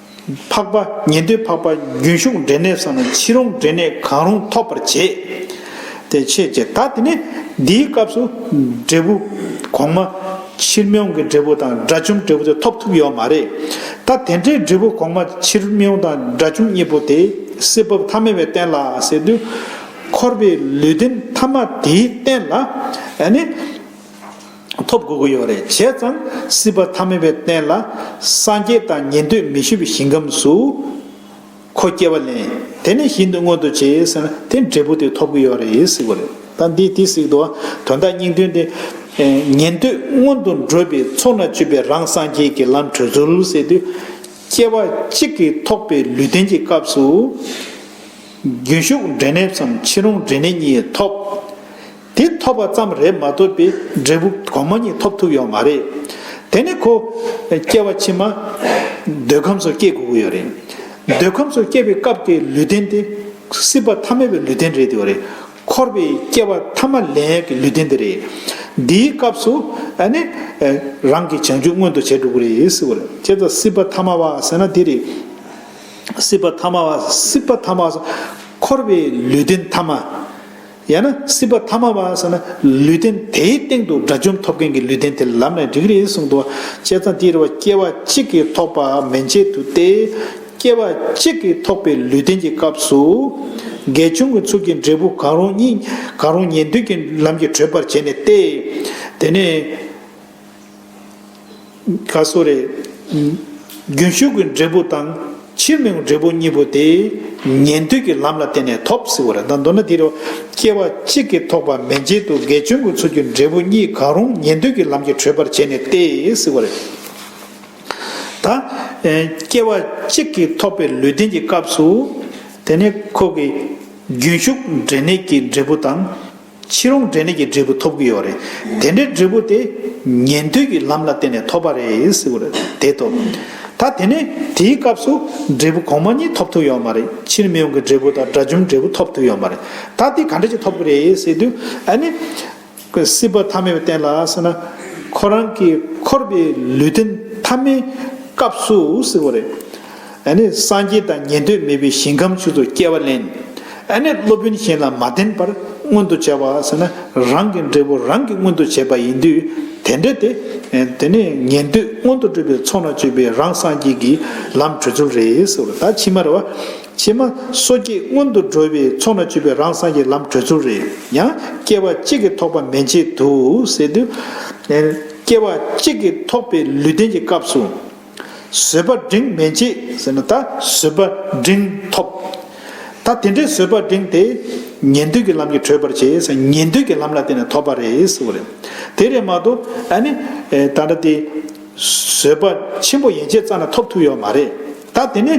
འཕགས་པ་ཉན་ཐོས་འཕགས་པ་རྒྱུན་ཞུགས་འབྲས་གནས་སམ་ཕྱི་རུང་འབྲས་གནས་གང་རུང་ཐོབ་པར་བྱེད་དེ་ཕྱེད་ཀྱི་ད་དེ་ནས་འདིའི་སྐབས་སུ་འབྲས་བུ། གོང་མ། ཕྱིར་མྱོང་གི་འབྲས་བུ་དང་དགྲ་བཅོམ་འབྲས་བུ་དེ་ཐོབ་ཐུབ་ཡོད་མ་རེད། ད་དེ་འདྲའི་འབྲས་བུ་གོང་མ་ཕྱིར་མྱོང་དང་དགྲ་བཅོམ་གཉིས་པོ་དེ་སྲིད་བབས་ཐ་མལ་བའི་རྟེན་ལ་ཟེར་དུས། འཁོར་བའི་ལུས་རྟེན་ཐ་མ་དེའི་རྟེན་ལ་ནི། ཐོབ་དགོས་ཀྱི་ཡོད་རེད་བྱས་ཙང་སྲིད་པ་ཐ་མལ་བའི་སྟེང་ལ་སངས་རྒྱས་དང་ཉན་འདོད་མི་ཞུ་བའི་ཞིང་ཁམས་སུ་ཁོ་སྐྱེ་བ་ལེན་དེ་ནས་ཞིང་དུ་མངོན་དུ་བྱས་ཟེར་ན་དེ་འབྲས་བུ་དེ་ཐོབ་ཀྱི་ཡོད་རེད་ཟེར་གྱི་རེད་ད་འདི་དེ་ཟིག་དོ་དོན་དག་སྙིང་དོན་དེ་ཉན་འདོད་སྔོན་དུ་འགྲོ་བའི་ཚོགས་ན་སྤྱོད་པའི་རང་སངས་རྒྱས་ཀྱི་ལམ་བགྲོད་ཚུལ་ཟེར་དུས་སྐྱེ་བ་གཅིག་གིས་ཐོགས་པའི་ལུས་རྟེན་གྱི་སྐབས་སུ་རྒྱུན་ཞུགས་འབྲས་གནས་སམ་ཕྱི་རོང་འབྲས་གནས་གཉིས་ཐོབ། དེ་ཐོབ་པ་ཙམ་རེད་མ་ཐོབ་པའི་འབྲས་བུ་གོང་མ་གཉིས་ཐོབ་ཐུབ་ཡོད་མ་རེད། དེ་ནི་ཁོ། སྐྱེ་བ་ཕྱི་མ། འདོད་ཁམས་སུ་སྐྱེ་དགོས་ཀྱི་ཡོད་རེད། འདོད་ཁམས་སུ་སྐྱེ་བའི་སྐབས་ཀྱི་ལུས་རྟེན་དེ། སྲིད་པ་ཐ་མལ་པའི་ལུས་རྟེན་རེད་དེ། འཁོར་བའི་སྐྱེ་བ་ཐ་མ་ལན་ཡག་གི་ལུས་རྟེན་དེ་རེད། འདིའི་སྐབས་སུ། ནི། རང་གི་བྱང་ཆུབ་མངོན་དུ་བྱས་འགྲོ་གི་རེད། ཅེས་དང་སྲིད་པ་ཐ་མ་བ་ཟེར་ན་དེ་རེད། སྲིད་པ་ཐ་མ་བ། སྲིད་པ་ཐ་མ་བ། འཁོར་བའི་ལུས་རྟེན་ཐ་མ། ཡང་ན་སྲིད་པ་ཐ་མ་བ་ཟེར་ན་ལུས་རྟེན་དེའི་སྟེང་དུ་དགྲ་བཅོམ་ཐོབ་མཁན་གྱི་ལུས་རྟེན་དེ་ལམ་ནས་རིག་རེ་ཟུང་དུ་བཅད་ཙང་དེའི་རེ་བ་སྐྱེ་བ་གཅིག་གིས་ཐོགས་པ་མན་ཆད་དུ་སྟེ། སྐྱེ་བ་གཅིག་གིས་ཐོགས་པའི་ལུས་རྟེན་གྱི་སྐབས་སུ། དགེ་སྦྱོང་གི་ཚུལ་གྱིས་འབྲས་བུ་གང་རུང་གཉིས་གང་རུང་ཉན་ཐོས་ཀྱི་ལམ་གྱིས་གྲོལ་བར་བྱས་ནས་ཏེ། དེ་ནས། ག་སོ་རེ། རྒྱུན་ཞུགས་ཀྱི་འབྲས་བུ་དང། ཕྱིར་མི་འོང་འབྲས་བུ་གཉིས་པོ་དེ། ཉན་ཐོས་ཀྱི་ལམ་ལ་བརྟེན་ནས་ཐོབ་ཟེར་བ་རེད་ད། མདོར་ན་དེ་རུ། སྐྱེ་བ་གཅིག་གིས་ཐོགས་པ་མེད་རྗེས་དུ་དགེ་སྦྱོང་གི་ཚུལ་གྱིས་འབྲས་བུ་གཉིས་གང་རུང་ཉན་ཐོས་ཀྱི་ལམ་གྱིས་གྲོལ་བར་བྱས་ནས་ཏེ་ཟེར་བ་རེད། ད། སྐྱེ་བ་གཅིག་གིས་ཐོགས་པའི་ལུས་རྟེན་གྱི་སྐབས་སུ། དེ་ནི་ཁོག་གི། རྒྱུན་ཞུགས་འབྲས་གནས་ཀྱི་འབྲས་བུ་དང། ཕྱི་རོང་འབྲས་ནད་ཀྱི་འབྲས་བུ་ཐོབ་ཀྱི་ཡོད་རེད། དེ་འདྲའི་འབྲས་བུ་དེ། ཉན་ཐོས་ཀྱི་ལམ་ལ་བརྟེན་ནས་ཐོབ་པ་རེད། དེ་ཐོབ། ད་དེ་ནས་དེའི་སྐབས་སུ། འབྲས་བུ་གོང་མ་གཉིས་ཐོབ་ཐུབ་ཡོད་མ་རེད། ཕྱིར་མི་ཡོང་གི་འབྲས་བུ་དང་དགྲ་བཅོམ་འབྲས་བུ་ཐོབ་ཐུབ་ཡོད་མ་རེད། ད་དེ་ག་འདྲ་ཅིག་ཐོབ་ཀྱི་རེད་ཟེར་དུས། ཨ་ནི། སྲིད་པ་ཐ་མའི་སྟེང་ལ་སོང་ན། ཁོ་རང་གི་འཁོར་བའི་ལུས་རྟེན་ཐ་མའི་སྐབས་སུ། ཨ་ནི་སངས་རྒྱས་དང་ཉན་ཐོས་མེད་པའི་ཞིང་ཁམས་ཆུ་ཚོད་བསྐྱལ་བ་ལེན། ཨ་ནི་སློབ་དཔོན་གཞན་ལ་མ་བསྟན་པར་མངོན་དུ་བྱ་བ་ཟེར་ན་རང་གི་འབྲས་བུ་རང་གིས་མངོན་དུ་བྱས་པ་ཡིན་དུས་དེ་འདྲ་སྟེ། དེ་ནི་ཉན་ཐོས་མངོན་དུ་སྤྲུལ་པའི་ཚོགས་ན་སྤྱོད་པའི་རང་སངས་རྒྱས་ཀྱི་ལམ་བྲོད་ཚུལ་རེད་ཟེར་བ་ད་ཕྱི་མར་བ། ཕྱི་མ་སོ་སྐྱེས་མངོན་དུ་འགྲོ་བའི་ཚོགས་ན་སྤྱོད་པའི་རང་སངས་རྒྱས་ལམ་བྲོད་ཚུལ་རེད་ཡང་སྐྱེ་བ་གཅིག་གིས་ཐོགས་པ་མན་ཆད་དུ་ཟེར་དུས། སྐྱེ་བ་གཅིག་གིས་ཐོགས་པའི་ལུས་རྟེན་གྱི་སྐབས་སུ། བཟོད་པ་འབྲིང་མི་མཇེད་ཟེར་ན་ད་བཟོད་པ་འབྲིང་ཐོབ། ད་དེ་འདྲའི་བཟོད་པ་འབྲིང་དེ་ཉན་ཐོས་ཀྱི་ལམ་གྱིས་གྲོལ་བར་བྱེད་ས་ཉན་ཐོས་ཀྱི་ལམ་ལ་བརྟེན་ནས་ཐོབ་པ་རེད་ཟེར་བ་རེད། དེ་རེད་མ་གཏོགས་ཨ་ནི་ད་ལྟ་དེ་བཟོད་པ་ཆེན་པོ་ཡན་ཆད་རྩ་ན་ཐོབ་ཐུབ་ཡོད་མ་རེད། ད་དེ་ནི།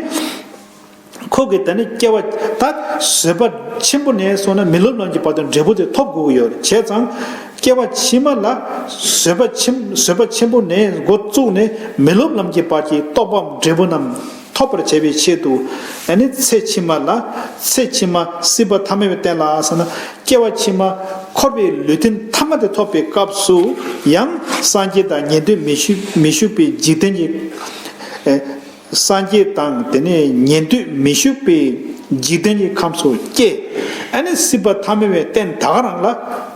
ཁོ་གིས་ད་ནི་སྐྱེ་བ་ད་བཟོད་པ་ཆེན་པོ་ནས་སོང་ན་མི་ལོ་ལོན་གྱི་བར་དུ་འབྲས་བུ་དེ་ཐོབ་དགོས་ཀྱི་ཡོད་བྱས་ཙང། སྐྱེ་བ་ཕྱི་མ་ལ་བཟོད་པ་ཆེན་བཟོད་པ་ཆེན་པོ་ནས་འགོ་བཙུགས་ནས་མི་ལོབ་ལམ་གྱི་བར་གྱི་རྟོགས་པའམ་འབྲས་བུ་རྣམས་ཐོབ་པར་བྱེད་པའི་ཆེད་དུ། ད་ནི་ཚེ་ཕྱི་མ་ལ་ཚེ་ཕྱི་མ་སྲིད་པ་ཐ་མལ་བའི་རྟེན་ལ་སོང་ན་སྐྱེ་བ་ཕྱི་མ་འཁོར་བའི་ལུས་རྟེན་ཐ་མ་དེ་ཐོབ་པའི་སྐབས་སུ་ཡང་སངས་རྒྱས་དང་ཉན་ཐོས་མི་བཞུགས་པའི་འཇིག་རྟེན་གྱི། སངས་རྒྱས་དང་དེ་ནས་ཉན་ཐོས་མི་བཞུགས་པའི་འཇིག་རྟེན་གྱི་ཁམས་སུ་སྐྱེ། ཨ་ནི་སྲིད་པ་ཐ་མལ་བའི་རྟེན་ད་ག་རང་ལ་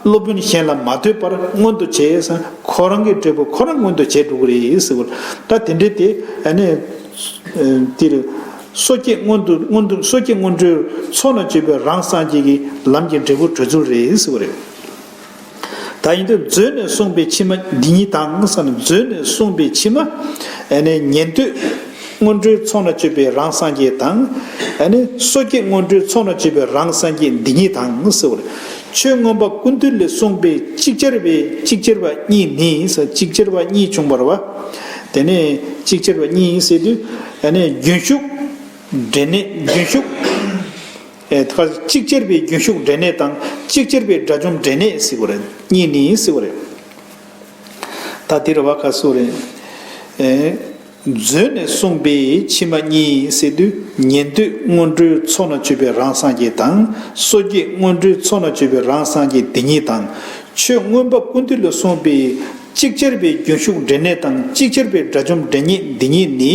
སློབ་དཔོན་གཞན་ལ་མ་ལྟོས་པར་མངོན་དུ་བྱས། ཁོ་རང་གི་འབྲས་བུ་ཁོ་རང་མངོན་དུ་བྱས་འགྲོ་གི་རེད་ཟེར་བ་ལྟར་དེ་འདྲའི་དེ་ཨ་ནི། འདིར། སོ་སྐྱེ་སྔོན་དུ་སྔོན་དུ་སོ་སྐྱེ་སྔོན་འགྲོའི་ཚོགས་ལ་སྤྱོད་པའི་རང་སངས་རྒྱས་ཀྱི་ལམ་གྱི་འབྲས་བུ་གྲོལ་ཚུལ་རེད་ཟེར་བ་རེད། ད་ཡིན་དུས་མཛོད་ནས་གསུངས་པའི་ཕྱི་མ་འདི་ཉིད་དང་བསམ་ནས་མཛོད་ནས་གསུངས་པའི་ཕྱི་མ། ཉན་ཐོས་སྔོན་འགྲོའི་ཚོགས་ན་སྤྱོད་པའི་རང་སངས་རྒྱས་དང། སོ་སྐྱེ་སྔོན་འགྲོའི་ཚོགས་ན་སྤྱོད་པའི་རང་སངས་རྒྱས་འདི་ཉིད་དང་ཟེར་བ་ལ། ཆོས་མངོན་པ་ཀུན་བཏུས་ལས་གསུངས་པའི་ཅིག་ཅར་བའི་ཅིག་ཅར་བ་གཉིས་ནི་ཅིག་ཅར་བ་གཉིས་བྱུང་བར་བ། དེ་ནས་ཅིག་ཅར་བ་གཉིས་ཟེར་དུས། རྒྱུན་ཞུགས་འབྲས་གནས་རྒྱུན་ཞུགས། ཁ་ཅིག་གཅེར་བའི་རྒྱུན་ཞུགས་འབྲས་ནད་དང་ཅིག་གཅེར་བའི་དགྲ་བཅོམ་འབྲས་ནད་སྲིད་པོ་རེད་གཉིས་ནི་སྲིད་པོ་རེད། ད་འདིར་བ་ཁ་སུ་རེད། མཛོད་ནས་གསུངས་པའི་ཕྱི་མ་གཉིས་སྲིད་དུས་ཉན་ཐོས་སྔོན་འགྲོའི་ཚོགས་ན་སྤྱོད་པའི་རང་སངས་རྒྱས་དང་སོ་སྐྱེས་སྔོན་འགྲོའི་ཚོགས་ན་སྤྱོད་པའི་རང་སངས་རྒྱས་འདི་གཉིས་དང། ཆོས་མངོན་པ་ཀུན་འདུས་ལ་གསུངས་པའི་ཅིག་གཅེར་བའི་རྒྱུན་ཞུགས་འབྲས་ནད་དང་ཅིག་གཅེར་བའི་དགྲ་བཅོམ་འབྲས་ཉེས་འདི་གཉིས་ནི།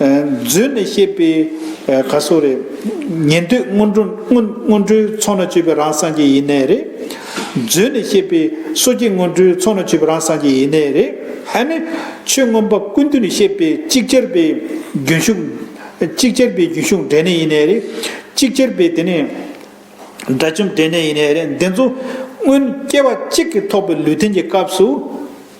མཛོད་ནས་བཤད་པའི་ག་སོགས་རེད། ཉན་ཐོས་སྔོན་འགྲོ་སྔོན་འགྲོའི་ཚོགས་ན་སྤྱོད་པའི་རང་སངས་རྒྱས་ཡེ་ནས་རེད། མཛོད་ནས་བཤད་པའི་སོ་སྐྱེ་སྔོན་འགྲོའི་ཚོགས་ན་སྤྱོད་པའི་རང་སངས་རྒྱས་ཡེ་ནས་རེད། ཧ་ནི། ཆོས་མངོན་པ་ཀུན་བཏུས་ནས་བཤད་པའི་གཅིག་ཅར་པའི་རྒྱུན་ཞུགས། གཅིག་ཅར་པའི་རྒྱུན་ཞུགས་འབྲས་གནས་ཡེ་ནས་རེད། གཅིག་ཅར་པའི་དེ་ནས། དགྲ་བཅོམ་འབྲས་གནས་ཡེ་ནས་རེད། འདི་ཚོ། སྔོན་སྐྱེ་བ་གཅིག་གིས་ཐོགས་པའི་ལུས་རྟེན་གྱི་སྐབས་སུ།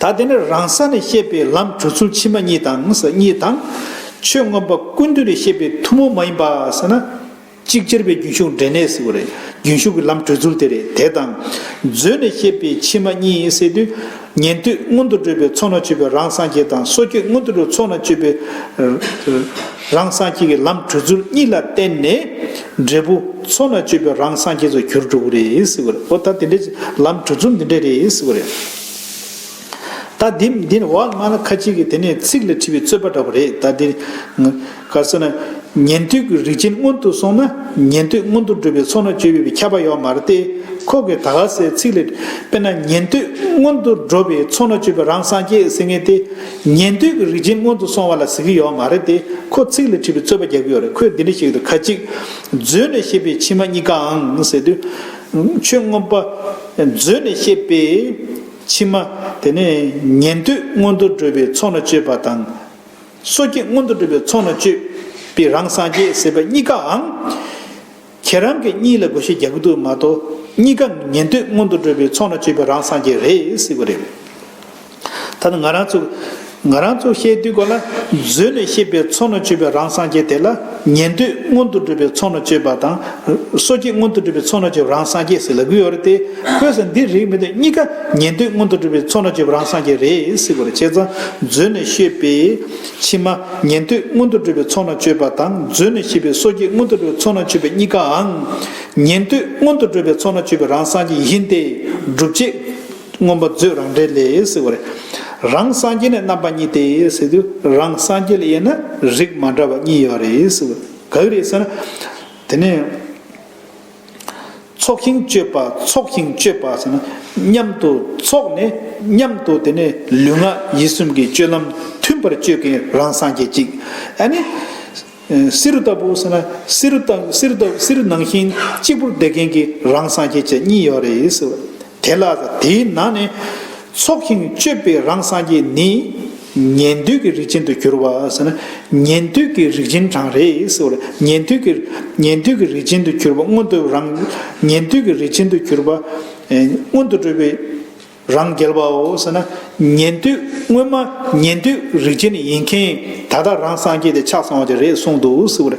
ད་དེ་ནས་རང་ས་ནས་བཤད་པའི་ལམ་གྲུ་ཚུལ་ཕྱི་མ་གཉིས་དང་གཉིས་དང། ཆོས་མངོན་པ་ཀུན་འདུས་ནས་བཤད་པའི་ཐུན་མོང་མ་ཡིན་པ་ཟེར་ན། གཅིག་ཅེར་བའི་རྒྱུན་ཞུགས་འབྲས་གནས་སུ་རེད་རྒྱུན་ཞུགས་ཀྱི་ལམ་གྲུ་ཚུལ་དེ་རེད་དེ་དང། མཛོད་ནས་བཤད་པའི་ཕྱི་མ་གཉིས་བསལ་དུས། ཉན་ཐོས་མངོན་དུ་སྤྲོད་པའི་ཚོགས་ན་སྤྱོད་པའི་རང་སངས་རྒྱས་དང་སོ་སྐྱེ་མངོན་དུ་སྤྲོད་ཚོགས་ན་སྤྱོད་པའི། རང་སངས་རྒྱས་ཀྱི་ལམ་གྲོལ་ཚུལ་གཉིས་ལ་བརྟེན་ནས། འབྲས་བུ་ཚོགས་རྣམས་སྤྱོད་པའི་རང་སངས་རྒྱས་སུ་གྱུར་འགྲོ་གི་རེད་ཟེར་བ་རེད། འོ་ད་དེ་འདྲའི་ལམ་གྲོལ་ཚུལ་འདི་འདྲ་རེད་ཟེར་བ་རེད། ད་འདི་འདི་ནི་འོག་མ་ལ་ཁ་ཅིག་གིས་དེ་ནི་ཚིག་ལ་བྲིས་པའི་རྩོད་པ་འདྲ་བོ་རེད་ད་འདི། ག་སོ་ན། ཉན་ཐོས་ཀྱི་རིགས་ཅན་སྔོན་དུ་སོང་ན་ཉན་ཐོས་སྔོན་དུ་འགྲོ་བའི་ཚོགས་རྣམས་སྤྱོད་པའི་ཁྱབ་པ་ཡོད་མ་རེད་དེ། ཁོ་གིས་ད་ག་ཟེ་ཚིག་ལ་དཔེར་ན་ཉན་ཐོས་སྔོན་དུ་འགྲོ་བའི་ཚོགས་རྣམས་སྤྱོད་པའི་རང་སངས་རྒྱས་ཟེར་ངེས་ཏེ། ཉན་ཐོས་ཀྱི་རིགས་ཅན་སྔོན་དུ་སོང་བ་ལ་གཟིགས་ཀྱི་ཡོད་མ་རེད་དེ་ཁོ་ཚིག་ལ་དྲིས་པའི་རྩོད་པ་རྒྱག་གི་ཡོད་རེད་ཁོས་འདི་འདྲ་ཞིག་ཏུ་ཁ་ཅིག། མཛོད་ནས་བཤད་པའི་ཕྱི་མ་གཉིས་ཀའང་ཟེར་དུས། ཆོས་མངོན་པ། མཛོད་ནས་བཤད་པའི་ཕྱི་མ་དེ་ནི་ཉན་ཐོས་སྔོན་དུ་བགྲོད་པའི་ཚོགས་ན་སྤྱོད་པ་དང། སོ་སྐྱེ་སྔོན་དུ་བགྲོད་པའི་ཚོགས་ན་སྤྱོད་པའི་རང་སངས་རྒྱས་ཟེར་བ་གཉིས་ཀའང། ཁྱེད་རང་གི་གཉིད་ལ་དགོད་ཤེས་རྒྱག་གི་འདུག་མ་གཏོགས་གཉིད་ཀ་ཉན་དུས་སྔོན་དུ་འགྲོ་བའི་ཚོགས་ན་སྤྱོད་པའི་རང་སངས་རྒྱས་རེད་ཟེར་གི་རེད། ད་ནི་ང་རང་ཚོ་ང་རང་ཚོ་བཤད་དུས་གོ་ལ་མཛོད་ནས་བཤད་པའི་ཚོགས་ན་སྤྱོད་པའི་རང་སངས་རྒྱས་དེ་ལ་ཉན་དུས་སྔོན་དུ་འགྲོ་བའི་ཚོགས་ན་སྤྱོད་པ་དང་སོ་སྐྱེས་སྔོན་དུ་འགྲོ་བའི་ཚོགས་ན་སྤྱོད་པའི་རང་སངས་རྒྱས་ཟེར་ལབ་གི་ཡོད་རེད་དེ་ཁོས་ཟེར་འདི་རིགས་མི་འདུག་གཉིད་ཀ་ཉན་དུས་སྔོན་དུ་འགྲོ་བའི་ཚོགས་ན་སྤྱོད་པའི་རང་སངས་རྒྱས་རེད་ཟེར་གི་རེད་ཁྱེད་ཚང་མཛོད་ནས་བཤད་པའི། ཕྱི་མ། ཉན་ཐོས་མངོན་དུ་གྲུབ་པའི་ཚོགས་ན་སྤྱོད་པ་དང་མཛོད་ནས་ཤེས་པའི་སོ་སྐྱེ་མངོན་དུ་གྲུབ་པའི་ཚོགས་ན་སྤྱོད་པའི་གཉིས་ཀའང། ཉན་ཐོས་མངོན་དུ་གྲུབ་པའི་ཚོགས་ན་སྤྱོད་པའི་རང་སངས་རྒྱས་ཡིན་ཏེ། སྒྲུབ་བྱེད། མངོན་པ་མཛོད་རང་འགྲེལ་ལས། རང་སངས་རྒྱས་ནི་རྣམ་པ་གཉིས་ཏེ། རང་སངས་རྒྱས་ལ་དབྱེ་ན་རིགས་མ་འདྲ་བ་གཉིས་ཡོད། ག་གི་རེད་ཟེར་ན། དེ་ནི། ཚོགས་ཤིང་སྤྱོད་པ་ཚོགས་ཤིང་སྤྱོད་པ་ཟེར་ན་མཉམ་དུ་ཚོགས་ནས་མཉམ་དུ་དེ་ནས་ལུས་ངག་ཡིད་གསུམ་གྱི་སྤྱོད་ལམ་མཐུན་པར་སྤྱོད་མཁན་རང་སངས་རྒྱས་གཅིག་ཨ་ནི། བསེ་རུ་ལྟ་བུ་ཟེར་ན་བསེ་རུ་དང་བསེ་རུ་དང་བསེ་རུ་ནང་བཞིན་གཅིག་པུར་བསྡད་མཁན་གྱི་རང་སངས་རྒྱས་བཅས་གཉིས་ཡོད་རེད། དེ་ལ་དེའི་ནང་ནས། ཚོགས་ཞིང་སྤྱོད་པའི་རང་སངས་རྒྱས་ནི། ཉན་ཐོས་ཀྱི་རིགས་ཅན་དུ་གྱུར་པ། ཉན་ཐོས་ཀྱི་རིགས་ཅན་གྲང་རེག་བྱེད་པ། ཉན་ཐོས་ཀྱི་རིགས་ཅན་དུ་གྱུར་པ་སྔོན་དུ་རང། ཉན་ཐོས་ཀྱི་རིགས་ཅན་དུ་གྱུར་པ། སྔོན་དུ་སྤྲོས་པའི་རང་རྒྱལ་བའོ། ཉན་ཐོས་སྔོན་མ་ཉན་ཐོས་རིགས་ཅན་ཡིན་མཁན་ད་ལྟ་རང་སངས་རྒྱས་ཏེ་ཕྱག་བཟང་བ་དེ་རེད་གསུངས་འདུག།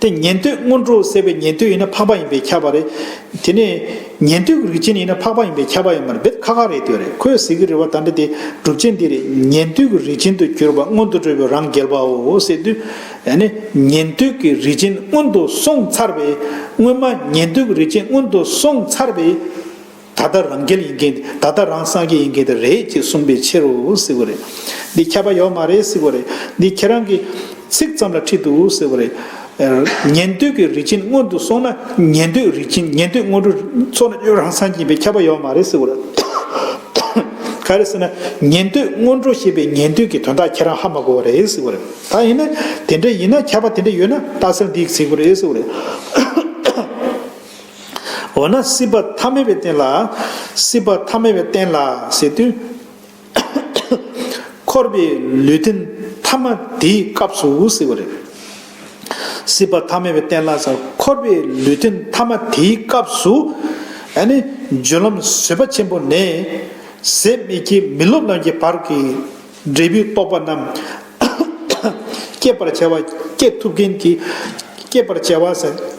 དེ་ཉན་ཐོས་སྔོན་འགྲོ་ཟད་པའི་ཉན་ཐོས་ཡིན་ན་འཕགས་པ་ཡིན་པས་ཁྱབ་པ་རེད། དེ་ནས། ཉན་ཐོས་ཀྱི་རིགས་ཅན་ཡིན་ན་འཕགས་པ་ཡིན་པས་ཁྱབ་པ་ཡིན་པར་འབད་ཁག་ཁག་རེད་དོན་རེད་ཁོས་ཟེར་གྱི་རེད་བ་ད་འདྲ་དེ་སྒྲུབ་བྱེད་འདི་རེད་ཉན་ཐོས་ཀྱི་རིགས་ཅན་དུ་གྱུར་པ་སྔོན་དུ་འགྲོ་བའི་རང་རྒྱལ་པའོ་ཟེར་དུས། ནི། ཉན་ཐོས་ཀྱི་རིགས་ཅན་སྔོན་དུ་སོང་ཚར་བས། སྔོན་མ་ཉན་ཐོས་ཀྱི་རིགས་ཅན་སྔོན་དུ་སོང་ཚར་བས། ད་ལྟ་རང་རྒྱལ་ཡིན་མཁན་དེ་ད་ལྟ་རང་སངས་རྒྱས་ཡིན་མཁན་དེ་རེད་ཅེས་གསུངས་པའི་ཕྱིར་རོ་ཟེར་བ་རེད། འདི་ཁྱབ་པ་ཡོད་མ་རེད་ཟེར་བ་རེད། འདི་ཁྱེད་རང་གི། ཚིག་ཙམ་ལ་ཁྲིད་འདུག་ཟེར་བ་རེད། ཉན་ཐོས་ཀྱི་རིགས་ཅན་སྔོན་དུ་སོང་ན་ཉན་ཐོས་རིགས་ཅན་ཉན་ཐོས་སྔོན་འགྲོ་ཚོ་ན་ཡོད་རང་སངས་རྒྱས་ཡིན་པས་ཁྱབ་པ་ཡོད་མ་རེད་ཟེར་བ་རེད། ག་རེ་ཟེར་ན་ཉན་ཐོས་སྔོན་འགྲོ་ཞེས་པའི་ཉན་ཐོས་ཀྱི་དོན་དག་ཁྱེད་རང་ཧ་མ་གོ་བ་རེད་ཟེར་བ་རེད། ད་ཡིན་ན་དེ་འདྲ་ཡིན་ན་ཁྱབ་པ་དེ་འདྲ་ཡོད་ན་རྟགས་གསལ་འདི་ཡིག་ཚིག་པོ་རེད་ཟེར་བ་རེད། འོ་ན་སྲིད་པ་ཐ་མལ་པའི་རྟེན་ལ། སྲིད་པ་ཐ་མལ་པའི་རྟེན་ལ་ཟེར་དུས། འཁོར་བའི་ལུས་རྟེན་ཐ་མ་དེའི་སྐབས་སུ་ཟེར་བ་རེད། སྲིད་པ་ཐ་མལ་པའི་རྟེན་ལ་ཟེར་འཁོར་བའི་ལུས་རྟེན་ཐ་མ་དེའི་སྐབས་སུ། ཨ་ནི་རྒྱུ་ལམ་བཟོད་པ་ཆེན་པོ་ནས། ཟད་མི་སྐྱེ་མི་སློབ་རྣམས་ཀྱི་བར་གྱི་འབྲས་བུའི་རྟོག་པ་རྣམས། བསྐྱེད་པར་བྱ་བ་བསྐྱེད་ཐུབ་མཁན་གྱི་བསྐྱེད་པར་བྱ་བ།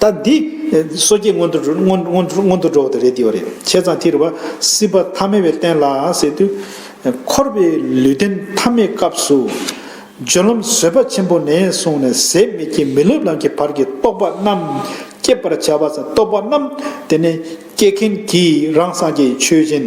ད་འདི། སོ་སྐྱེ་སྔོན་དུ་སྔོན་དུ་འགྲོ་བ་དེ་རེད་འདིའོ་རེད་བྱས་ཙང་དེ་རེད་བ། སྲིད་པ་ཐ་མལ་བའི་རྟེན་ལ་ཟེར་དུས། འཁོར་བའི་ལུས་རྟེན་ཐ་མའི་སྐབས་སུ། སྦྱོར་ལམ་བཟོད་པ་ཆེན་པོ་ནས་བཟུང་ནས་ཟད་མེད་ཀྱི་མི་སློབ་ལམ་གྱི་བར་གྱི་རྟོག་པ་རྣམས་བསྐྱེད་པར་བྱ་བ། རྟོག་པ་རྣམས་དེ་ནས་སྐྱེད་མཁན་གྱིས་རང་སངས་རྒྱས་ཆོས་ཅན།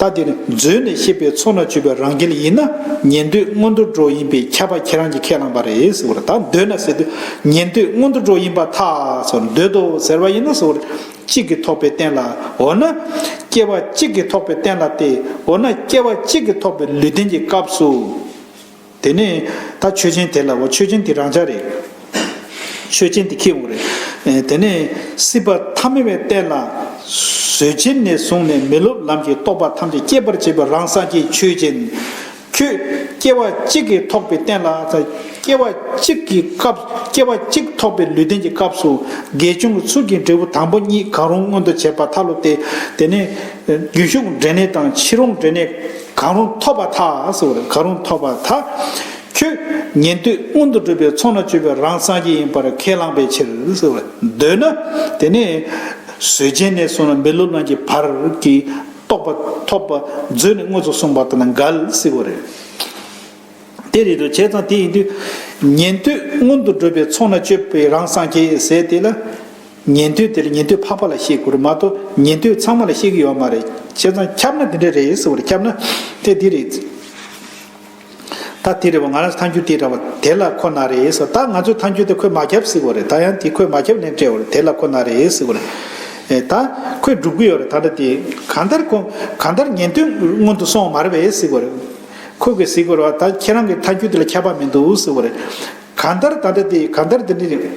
ད་འདིར་འཛུལ་ནས་ཤེས་པའི་ཚོགས་ན་བཅུ་པའི་རང་རྒྱལ་ཡིན་ན་ཉན་ཐོས་སྔོན་འགྲོ་འགྲོ་ཡིན་པས་ཁྱབ་པ་ཁྱེད་རང་གིས་ཁས་བླངས་པ་རེད་ཟེར་བར་ད་འདོད་ན་ཟེར་དུས་ཉན་ཐོས་སྔོན་འགྲོ་འགྲོ་ཡིན་པ་ཐག་ཆོད་འདོད་དོ་ཟེར་བ་ཡིན་ན་ཟེར་བར་གཅིག་གིས་ཐོགས་པའི་རྟེན་ལ་འོ་ན། སྐྱེ་བ་གཅིག་གིས་ཐོགས་པའི་རྟེན་ལ་སྟེ་འོ་ན་སྐྱེ་བ་གཅིག་གིས་ཐོགས་པའི་ལུས་རྟེན་གྱི་སྐབས་སུ། དེ་ནས་ད་ཆོས་ཅན་དེ་ལ་འོ་ཆོས་ཅན་དེ་རང་ཅག་རེད། ཆོས་ཅན་དེ་ཁྱེད་འོ་རེད། དེ་ནས་སྲིད་པ་ཐ་མལ་བའི་གཏེར་ལ། བཟོད་ཆེན་ནས་བཟུང་ནས་མི་སློབ་ལམ་གྱི་རྟོག་པ་ཐམས་ཅད་སྐྱེད་པར་བྱེད་པའི་རང་སངས་རྒྱས་ཆོས་ཅན། ཁྱོད། སྐྱེ་བ་གཅིག་གིས་ཐོགས་པའི་རྟེན་ལ། སྐྱེ་བ་གཅིག་གི་སྐབས་སྐྱེ་བ་གཅིག་ཐོགས་པའི་ལུས་རྟེན་གྱི་སྐབས་སུ། དགེ་སྦྱོང་གི་ཚུལ་གྱིས་འབྲས་བུ་དང་པོ་གཉིས་གང་རུང་མངོན་དུ་བྱས་པ་མཐའ་སློབ་སྟེ། དེ་ནས། རྒྱུན་ཞུགས་འབྲས་གནས་དང་ཕྱིས་རུང་འབྲས་གནས། གང་རུང་ཐོབ་པ་དག་གསོལ་བ་གང་རུང་ཐོབ་པ་དག། ཁྱོད་ཉན་ཐོས་མངོན་དུ་གྲུབ་པའི་ཚོགས་ན་སྤྱོད་པའི་རང་སངས་རྒྱས་ཡིན་པར་ཁས་བླངས་པའི་ཕྱིར་གསོལ་བ་འདོད་ན། དེ་ནས་ཟོལ་ཅན་ནས་བཟུང་ན་མི་ལོ་རྣམས་ཀྱི་བར་གྱི་རྟོགས་པ་ཐོབ་པ་མཛོད་ནས་དངོས་སུ་གསུངས་པ་དང་འགལ་གསོལ་བ་རེ། དེ་རེ་རེ་བྱས་ཙང་དེ་ཡིན་དུས། ཉན་ཐོས་མངོན་དུ་གྲུབ་པའི་ཚོགས་ན་སྤྱོད་པའི་རང་སངས་རྒྱས་ཟེར་དེ་ལ། ཉན་ཐོས་དེར་ཉན་ཐོས་འཕགས་པ་ལ་བཤད་དགོས་རེད་མ་གཏོགས་ཉན་ཐོས་ཚང་མ་ལ་བཤད་གི་ཡོད་མ་རེད་བྱས་ཙང་ཁྱབ་ན་དེ་འདྲ་རེད་ཟེར་བར་ཁྱབ་ན་དེ་འདི་རེད། ད་དེ་རེད་བ་ང་རང་ཐང་རྒྱུད་དེ་འདྲ་བ་དེ་ལ་ཁོ་ན་རེད་ཟེར་བ་ད་ང་ཚོས་ཐང་རྒྱུད་དེ་ཁོས་མ་ཁྱབ་ཟེར་གི་རེད་ད་ཡང་དེ་ཁོས་མ་ཁྱབ་ལན་སྤྲད་བར་དེ་ལ་ཁོ་ན་རེད་ཟེར་གི་རེད་ད་ཁོས་སྒྲུབ་གི་ཡོད་རེད་ད་འདྲ་དེ་གང་ལྟར་ཁོ་གང་ལྟར་ཉན་ཐོས་སྔོན་དུ་སོང་བ་མ་རེད་བས་ཟེར་གི་རེད། ཁོས་གིས་ཟེར་གི་རེད་བ་ད་ཁྱེད་རང་གི་ཐང་རྒྱུད་དེ་ལ་ཁྱབ་པ་མི་འདུག་ཟེར་བ་རེད། གང་ལྟར་ད་འདྲ་དེ་གང་ལྟར་དེ་འདྲ་རེད།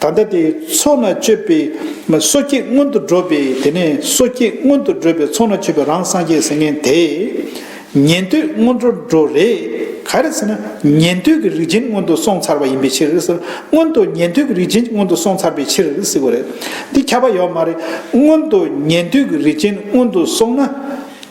ད་ལྟ་དེའི་ཚོགས་ན་སྤྱོད་པའི་སོ་སྐྱེས་སྔོན་དུ་འགྲོ་བས་དེ་ནས་སོ་སྐྱེས་སྔོན་དུ་འགྲོ་བའི་ཚོགས་ན་སྤྱོད་པའི་རང་སངས་རྒྱས་ཟེར་མཁན་དེས། ཉན་ཐོས་སྔོན་འགྲོར་འགྲོ་རེ། ག་རེ་ཟེར་ན་ཉན་ཐོས་ཀྱི་རིགས་ཅན་སྔོན་དུ་སོང་ཚར་བ་ཡིན་པའི་ཕྱིར། སྔོན་དུ་ཉན་ཐོས་ཀྱི་རིགས་ཅན་སྔོན་དུ་སོང་ཚར་བའི་ཕྱིར་ཟེར་དགོས་རེད། འདི་ཁྱབ་པ་ཡོད་མ་རེད། སྔོན་དུ་ཉན་ཐོས་ཀྱི་རིགས་ཅན་སྔོན་དུ་སོང་ན།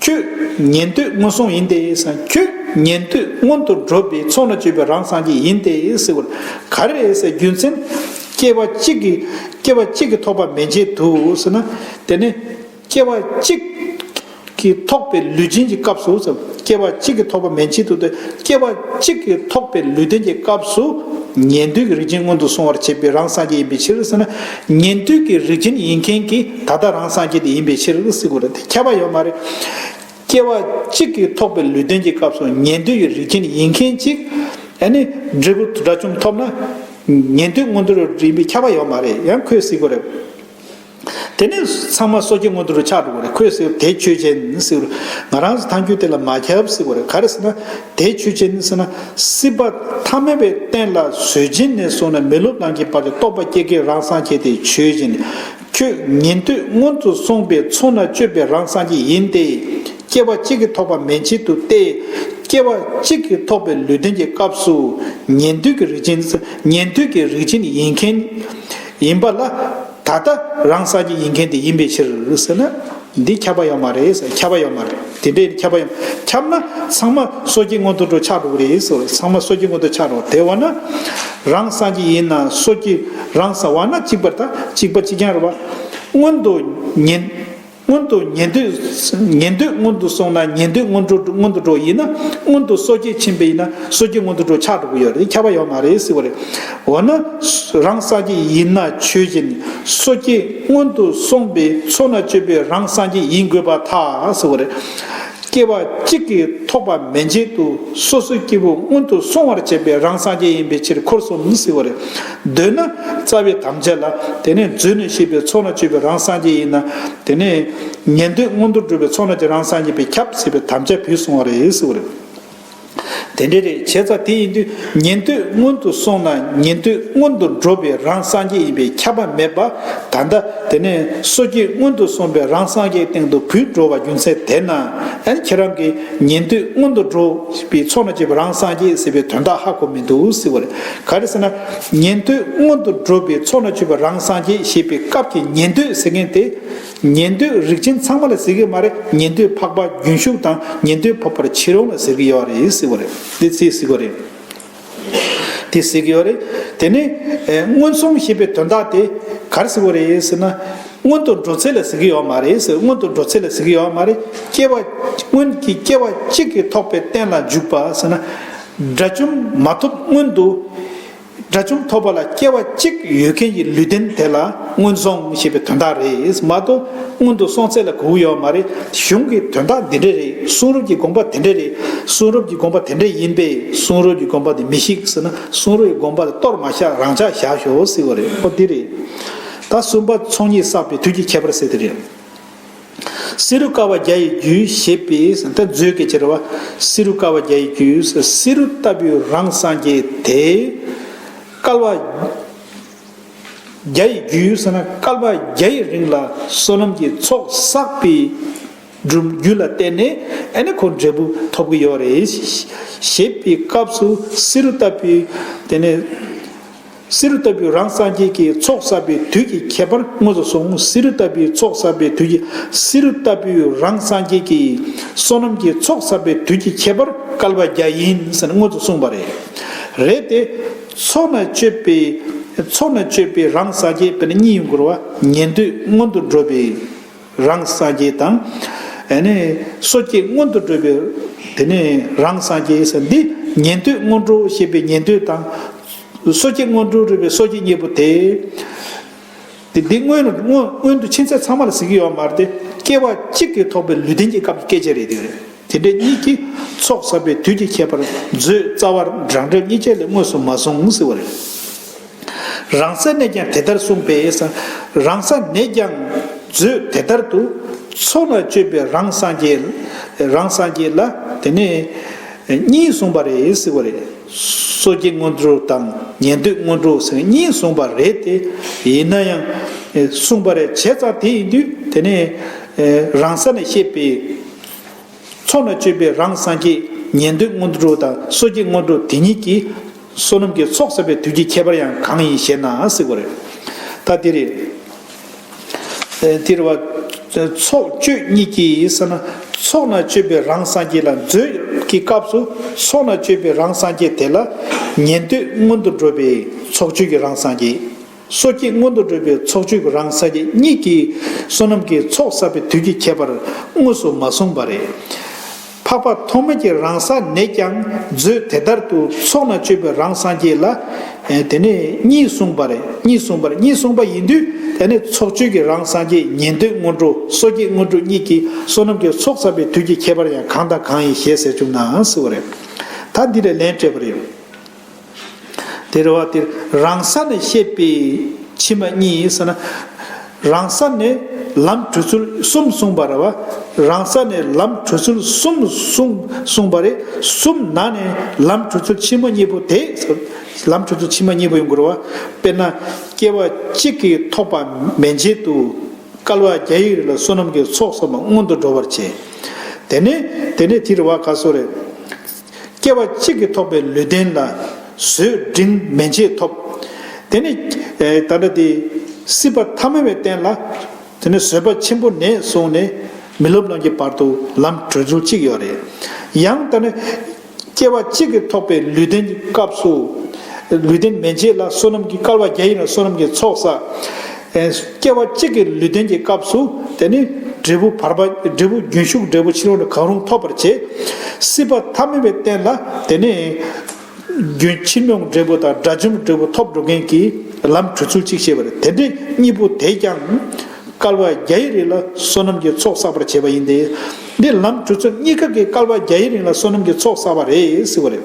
ཁྱོད་ཉན་ཐོས་སྔོན་སོང་ཡིན་ཏེ། ཁྱོད་ཉན་ཐོས་སྔོན་དུ་འགྲོ་བའི་ཚོགས་ན་སྤྱོད་པའི་རང་སངས་རྒྱས་ཡིན་ཏེ། ག་རེ་རྒྱུ་མཚན། སྐྱེ་བ་གཅིག་གིས་སྐྱེ་བ་གཅིག་གིས་ཐོགས་པ་མེད་བྱེད་དུ། དེ་ནས། སྐྱེ་བ་གཅིག་གིས་ཐོགས་པའི་ལུས་ཅན་གྱི་སྐབས་སུ། སྐྱེ་བ་གཅིག་གིས་ཐོགས་པ་མེད་བྱེད་དུ་སྟེ། སྐྱེ་བ་གཅིག་གིས་ཐོགས་པའི་ལུས་ལྡན་གྱི་སྐབས་སུ། ཉན་ཐོས་ཀྱི་རིགས་ཅན་སྔོན་དུ་སོང་བར་བྱེད་པའི་རང་སངས་རྒྱས་ཡིན་པའི་ཕྱིར། ཉན་ཐོས་ཀྱི་རིགས་ཅན་ཡིན་མཁན་གྱིས་ད་ལྟ་རང་སངས་རྒྱས་དེ་ཡིན་པའི་ཕྱིར་སྲིད་དགོས་རེད་དེ་ཁྱབ་པ་ཡོད་མ་རེད། སྐྱེ་བ་གཅིག་གིས་ཐོགས་པའི་ལུས་རྟེན་གྱི་སྐབས་སུ་ཉན་ཐོས་ཀྱི་རིགས་ཅན་ཡིན་མཁན་གཅིག་ནི་འབྲས་བུ་དགྲ་བཅོམ་ཐོབ་ན། ཉན་ཐོས་སྔོན་འགྲོ་རུ་འགྲིམས་པའི་ཁྱབ་པ་ཡོད་མ་རེད་ཡང་ཁོས་སྲིད་དགོས་རེད། དེ་ནས་ཚང་མ་སོ་སྐྱེ་སྔོན་འགྲོ་རུ་ཆགས་འགྲོ་དགོས་རེད་ཁོས་སྲིད་དེ་ཆོས་ཅན། ང་རང་ཚོ་ཐང་རྒྱུད་དེ་ལ་མ་ཁྱབ་སྲིད་དགོས་རེད་ག་རེ་ཟེར་ན། དེའི་ཆོས་ཅན་ནི་སྲིད་ན་སྲིད་པ་ཐ་མལ་པའི་རྟེན་ལ་བཟོད་སྦྱིན་ནས་བཟུང་ནས་མི་སློབ་རྣམས་ཀྱི་བར་དུ་རྟོག་པ་སྐྱེ་དགའི་རང་སངས་རྒྱས་དེའི་ཆོས་ཅན། ཁྱོད་ཉན་ཐོས་སྔོན་དུ་སོང་པའི་ཚོགས་ན་སྤྱོད་པའི་རང་སངས་རྒྱས་ཡིན་ཏེ། སྐྱེ་བ་གཅིག་གིས་ཐོགས་པ་མན་ཆད་དུ་སྟེ། སྐྱེ་བ་གཅིག་གིས་ཐོགས་པའི་ལུས་རྟེན་གྱི་སྐབས་སུ་ཉན་ཐོས་ཀྱི་རིགས་ཅན། ཉན་ཐོས་ཀྱི་རིགས་ཅན་ཡིན་མཁན། ཡིན་པ་ལ། ད་ལྟ་རང་ས་ཀྱི་ཡིན་མཁན་དེ་ཡིན་པའི་ཕྱིར་ཟེར་ན། འདི་ཁྱབ་པ་ཡང་མ་རེད་ཟེར་ཁྱབ་པ་ཡང་མ་རེད་དེ་འདྲའི་ཁྱབ་པ་ཡང་ཁྱབ་ན་ཚང་མ་སོ་སྐྱེ་མངོན་མཐོ་འགྲོ་ཆགས་འགྲོ་གི་རེད་ཟེར་བ་ཚང་མ་སོ་སྐྱེ་མངོན་མཐོ་ཆགས་འགྲོ་དེ་བ་ན། རང་ས་ཀྱི་ཡིན་ན་སོ་སྐྱེ་རང་ས་བ་ན་གཅིག་པར་ད་གཅིག་པ་གཅིག་རྐྱང་རེད་བ། སྔོན་དུ་ཉན། སྔོན་དུ་ཉན་ཐོས་ཉན་ཐོས་སྔོན་དུ་སོང་ན་ཉན་ཐོས་སྔོན་འགྲོ་སྔོན་དུ་འགྲོ་ཡིན་ན་སྔོན་དུ་སོ་སྐྱེ་ཕྱིན་པ་ཡིན་ན་སོ་སྐྱེ་སྔོན་དུ་འགྲོ་ཆགས་འགྲོ་གི་ཡོད་རེད་ཁྱབ་པ་ཡོད་མ་རེད་ཟེར་བ་རེད། འོ་ན་རང་སངས་རྒྱས་ཡིན་ན་ཆོས་བཞིན་སོ་སྐྱེ་སྔོན་དུ་སོང་པའི་ཚོགས་ན་སྤྱོད་པའི་རང་སངས་རྒྱས་ཡིན་དགོས་པ་ཐག་ཟེར་བ་རེད། སྐྱེ་བ་གཅིག་གིས་ཐོགས་པ་མེད་མཇལ་དུ་སོ་སོའི་སྐྱེ་བོ་སྔོན་དུ་སོང་བར་བྱས་པའི་རང་སངས་རྒྱས་ཡིན་པའི་ཕྱིར་འཁོར་གསུམ་ཟེར་བ་རེད། འདོད་ན། རྩ་བའི་དམ་བཅའ་ལ། དེ་ནས་བརྫུས་ནས་ཤེས་པའི་ཚོགས་ལ་སྤྱོད་པའི་རང་སངས་རྒྱས་ཡིན་ན། དེ་ནས། ཉན་ཐོས་མངོན་མཐོར་སྒྲུབ་པའི་ཚོགས་ལ་ཀྱང་རང་སངས་རྒྱས་པས་ཁྱབ་ཟེར་བའི་དམ་བཅའ་བུད་སོང་བ་རེད་ཟེར་བ་རེད། དེ་འདྲའི་རེད་བྱས་ཙང་དེ་ཡིན་དུས་ཉན་ཐོས་སྔོན་དུ་སོང་ན་ཉན་ཐོས་སྔོན་དུ་འགྲོ་བས་རང་སངས་རྒྱས་ཡིན་པས་ཁྱབ་པ་མེད་པ། ད་ལྟ། དེ་ནས་སོ་སྐྱེ་སྔོན་དུ་སོང་བས་རང་སངས་རྒྱས་སྟེང་དུ་བུད་འགྲོ་བ་རྒྱུ་མཚན་དེས་ན། ཁྱེད་རང་གིས་ཉན་ཐོས་སྔོན་དུ་འགྲོ་བའི་ཚོགས་ལ་སྤྱོད་པའི་རང་སངས་རྒྱས་ཟེར་བའི་དོན་དག་ཧ་གོ་མི་འདུག་ཟེར་བ་རེད། ག་རེ་ཟེར་ན། ཉན་ཐོས་སྔོན་དུ་འགྲོ་བའི་ཚོགས་ན་ཆུད་པ་རང་སངས་རྒྱས་ཞེས་པའི་སྐབས་ཀྱི་ཉན་ཐོས་ཟེར་མཁན་དེ། ཉན་ཐོས་རིགས་ཅན་ཚང་མ་ལ་ཟེར་གི་མ་རེད་ཉན་ཐོས་འཕགས་པ་རྒྱུན་ཞུགས་དང་ཉན་ཐོས་འཕགས་པར་ཕྱིར་འོང་ལ་ཟེར་གི་ཡོད་རེད་ཟེར་བ་རེད་དེ་ཟེར་གི་ཡོད་རེད། དེ་ཟེར་གི་ཡོད་རེད་དེ་ནས། མངོན་སུམ་ཞེས་པའི་དོན་དག་དེ་ག་རེ་ཟེར་བ་རེད་ཟེར་ན། སྔོན་དུ་འགྲོ་ཚད་ལ་ཟེར་གི་ཡོད་མ་རེད་ཟེར་སྔོན་དུ་འགྲོ་ཚད་ལ་ཟེར་གི་ཡོད་མ་རེད་སྐྱེ་བ། སྔོན་གྱི་སྐྱེ་བ་གཅིག་གི་ཐོག་པའི་རྟེན་ལ་འཇུག་པ་ཟེར་ན། དགྲ་བཅོམ་མ་ཐོབ་སྔོན་དུ། དགྲ་བཅོམ་ཐོབ་པ་ལ་སྐྱེ་བ་གཅིག་ཡོད་མཁན་གྱི་ལུས་རྟེན་དེ་ལ་སྔོན་སོང་ཞེས་པའི་དོན་དག་རེད་མ་གཏོགས་སྔོན་དུ་སོང་ཚད་ལ་གོ་བོ་ཡོད་མ་རེད་གཞུང་གི་དོན་དག་འདི་འདྲ་རེད་གསུང་རབ་ཀྱི་དགོངས་པ་དེ་འདྲ་རེད་གསུང་རབ་ཀྱི་དགོངས་པ་དེ་འདྲ་ཡིན་པས་གསུང་རབ་ཀྱི་དགོངས་པ་དེ་མི་ཤིགས་ཟེར་ན་གསུང་རབ་ཀྱི་དགོངས་པ་དེ་གཏོར་མ་བཞག་རང་འཇགས་བཞག་ཞོག་ཟེར་བ་རེད་འོ་འདི་རེད། ད་གསུམ་པ་ཚོགས་གཉིས་བསགས་པའི་དུས་ཀྱི་ཁྱད་པར་གསལ་དེ་རེད། བསེ་རུ་ཀ་བ་བརྒྱ་ཡི་རྒྱུའི་ཞེས་པས་དེ་མཛོད་ཀྱི་ཕྱིར་བ་བསེ་རུ་ཀ་བ་བརྒྱ་ཡི་རྒྱུ་བསེ་རུ་ལྟ་བུའི་རང་སངས་རྒྱས་དེས། སྐལ་བ་བརྒྱ་ཡི་རྒྱུ་ཟེར་ན་སྐལ་པ་བརྒྱ་ཡི་རིང་ལ་བསོད་ནམས་ཀྱི་ཚོགས་བསགས་པའི་རྒྱུ་ལ་བརྟེན་ནས་ཨེ་ནི་ཁོ་འབྲས་བུ་ཐོབ་ཀྱི་ཡོད་རེད། ཞེས་པའི་སྐབས་སུ་བསེ་རུ་ལྟ་བུའི་དེ་ནས། བསེ་རུ་ལྟ་བུའི་རང་སངས་རྒྱས་ཀྱི་ཚོགས་བསགས་པའི་དུས་ཀྱི་ཁྱད་པར་དངོས་སུ་གསུངས་བསེ་རུ་ལྟ་བུའི་ཚོགས་བསགས་པའི་དུས་ཀྱི་བསེ་རུ་ལྟ་བུའི་རང་སངས་རྒྱས་ཀྱི་བསོད་ནམས་ཀྱི་ཚོགས་བསགས་པའི་དུས་ཀྱི་ཁྱད་པར་བསྐལ་པ་བརྒྱ་ཡིན་ཟེར་དངོས་སུ་གསུངས་པ་རེད། རེད་དེ། ཚོགས་ན་སྤྱོད་པའི། ཚོགས་ན་སྤྱོད་པའི་རང་སངས་རྒྱས་དཔེར་ན་གཉིད་ཡུལ་འཁོར་བ་ཉན་ཐོས་སྔོན་དུ་འགྲོ་བའི། རང་སངས་རྒྱས་དང། སོ་སྐྱེ་སྔོན་དུ་འགྲོ་བའི་དེ་ནས་རང་སངས་རྒྱས་སམ་འདི་ཉན་ཐོས་སྔོན་འགྲོ་ཞེས་པའི་ཉན་ཐོས་དང། སོ་སྐྱེ་སྔོན་འགྲོ་རུས་པའི་སོ་སྐྱེ་གཉིས་པོ་དེ། འདི་སྔོན་དུ་ཕྱིན་ཚད་ཚང་མ་ལ་གཟིགས་ཡོད་མ་རེད་དེ་སྐྱེ་བ་གཅིག་གིས་ཐོགས་པའི་ལུས་རྟེན་གྱི་སྐབས་ཀྱི་སྐད་ཆ་རེད་དེ། དེ་འདྲའི་གཉིས་ཀྱིས་ཚོགས་བསགས་པའི་དུས་ཀྱི་ཁྱད་པར་མཛོད་རྩ་བར་བགྲང་བྱ་གཉིས་ཆ་ལས་དངོས་སུ་མ་གསུངས་ཟེར་བ་རེད། རང་ས་ནས་ཀྱང་དེ་ལྟར་གསུངས་པས། རང་ས་ནས་ཀྱང་མཛོད་དེ་ལྟར་དུ། ཚོགས་ལ་སྤྱོད་པའི་རང་སངས་རྒྱས། རང་སངས་རྒྱས་ལ་དེ་ནས་གཉིས་གསུངས་པ་རེད་ཟེར་བ་རེད། སོ་སྐྱེ་སྔོན་འགྲོ་དང་ཉན་ཐོས་སྔོན་འགྲོ་ཟེར་གཉིས་གསུངས་པ་རེད་དེ། ཡིན་ན་ཡང་གསུངས་པ་རེད་བྱས་ཙང་དེ་ཡིན་དུས་དེ་ནས། རང་ས་ནས་བཤད་པའི། ཚོགས་ལ་སྤྱོད་པའི་རང་སངས་རྒྱས། ཉན་ཐོས་སྔོན་འགྲོ་དང་སོ་སྐྱེ་སྔོན་འགྲོ་དེ་གཉིས་ཀྱི། བསོད་ནམས་ཀྱི་ཚོགས་བསགས་པའི་དུས་ཀྱི་ཁྱད་པར་ཡང་གང་ཡིན་ཞེ་ན་གཟིགས་པ་རེད། ད་འདིར། འདིར་བ། ཚོགས་སྤྱོད་གཉིས་ཀྱིས་ས་ན་ཚོགས་ན་སྤྱོད་པའི་རང་སངས་རྒྱས་ལ་མཛོད་ཀྱི་སྐབས་སུ་ཚོགས་ན་སྤྱོད་པའི་རང་སངས་རྒྱས་དེ་ལ་ཉན་ཐོས་སྔོན་དུ་འགྲོ་བས་ཚོགས་སྤྱོད་ཀྱི་རང་སངས་རྒྱས། སོ་སྐྱེས་སྔོན་དུ་འགྲོས་པའི་ཚོགས་བཅུ་རང་ས་དགེ་གཉིས་ཀྱིས་བསོད་ནམས་ཀྱི་ཚོགས་བསགས་པའི་དུས་ཀྱི་ཁྱད་པར་དངོས་སུ་མ་གསུངས་པ་རེད། འཕགས་པ་ཐོགས་མེད་ཀྱི་རང་ས་ནས་ཀྱང་མཛོད་དེ་ལྟར་དུ་ཚོགས་ན་སྤྱོད་པའི་རང་སངས་རྒྱས་ལ། དེ་ནས་གཉིས་གསུངས་པ་རེད་གཉིས་གསུངས་པ་རེད་གཉིས་གསུངས་པ་ཡིན་དུས་དེ་ནས་ཚོགས་བཅུ་ཀྱི་རང་སངས་རྒྱས་ཉན་ཐོས་སྔོན་འགྲོ་སོ་སྐྱེས་སྔོན་འགྲོ་གཉིས་ཀྱིས་བསོད་ནམས་ཀྱི་ཚོགས་བསགས་པའི་དུས་ཀྱི་ཁྱད་པར་ཡང་གང་དང་གང་ཡིན་ཞེས་ཟེར་བཅུག་ནའང་སྲིད་བ་རེད། ད་འདི་ལས་ལན་སྤྲད་པ་རེད། དེར་བ་དེར་རང་ས་ནས་བཤད་པའི་ཕྱི་མ་གཉིས་ཡིན་ས་ན། རང་ས་ནས་ལམ་བྲོས་ཚུལ་གསུམ་གསུངས་པ་ར་བ། རང་ས་ནས་ལམ་བྲོས་ཚུལ་གསུམ་གསུངས་པ་རེ་གསུམ་ན་ནས་ལམ་བྲོས་ཚུལ་ཕྱི་མ་གཉིས་པོ་དེ། ལམ་བྲོས་ཚུལ་ཕྱི་མ་གཉིས་པོ་ཡིན་དགོས་ར་བ། དཔེར་ན། སྐྱེ་བ་གཅིག་གིས་ཐོགས་པ་མན་ཆད་དུ། སྐལ་བ་བརྒྱ་ཡིག་རེ་ལ་བསོད་ནམས་ཀྱི་ཚོགས་བསགས་པ་སྔོན་དུ་འགྲོ་བར་བྱེད། དེ་ནས་དེ་ནས་དེ་ར་བ་ག་སོ་རེ། སྐྱེ་བ་གཅིག་གིས་ཐོགས་པའི་ལུས་རྟེན་ལ། བཟོད་བསྒྲིམ་མན་ཆད་ཐོབ། དེ་ནས། ད་ལྟ་དེ། སྲིད་པ་ཐ་མལ་བའི་རྟེན་ལ། དེ་ནས་བཟོད་པ་ཆེན་པོ་ནས་བཟུང་ནས། མི་སློབ་ལམ་གྱི་བར་དུ་ལམ་བགྲོད་ཚུལ་གཅིག་ཡོད་རེད། ཡང་ད་ནི། སྐྱེ་བ་གཅིག་གིས་ཐོགས་པའི་ལུས་རྟེན་གྱི་སྐབས་སུ། ལུས་རྟེན་མན་ཆད་ལ་བསོད་ནམས་ཀྱི་སྐལ་བ་བརྒྱ་ཡིན་ལ་བསོད་ནམས་ཀྱི་ཚོགས་བསགས། སྐྱེ་བ་གཅིག་གི་ལུས་རྟེན་གྱི་སྐབས་སུ་དེ་ནི། འབྲས་བུ་བར་པ་འབྲས་བུ་རྒྱུན་ཞུགས་འབྲས་བུ་ཕྱི་ལོགས་ནས་གང་རུང་ཐོབ་པར་བྱེད། སྲིད་པ་ཐ་མི་བའི་རྟེན་ལ་དེ་ནི། རྒྱུན་ཕྱི་ཉོག་འབྲས་བུ་དང་དགྲ་བཅོམ་འབྲས་བུ་ཐོབ་འགྲོ་མཁན་གྱི་ལམ་གྲོལ་ཚུལ་གཅིག་ཤེས་པར་དེ་འདི་གཉིས་པོ་དེས་ཀྱང། སྐལ་བ་བརྒྱ་ཡི་རིང་ལ་བསོད་ནམས་ཀྱི་ཚོགས་བསགས་པར་བྱེད་པ་ཡིན་ཏེ། འདི་ལམ་གྲོལ་ཚུལ་གཉིས་ཀ་གིས་སྐལ་བ་བརྒྱ་ཡི་རིང་ལ་བསོད་ནམས་ཀྱི་ཚོགས་བསགས་པ་རེད་ཟེར་བ་རེད།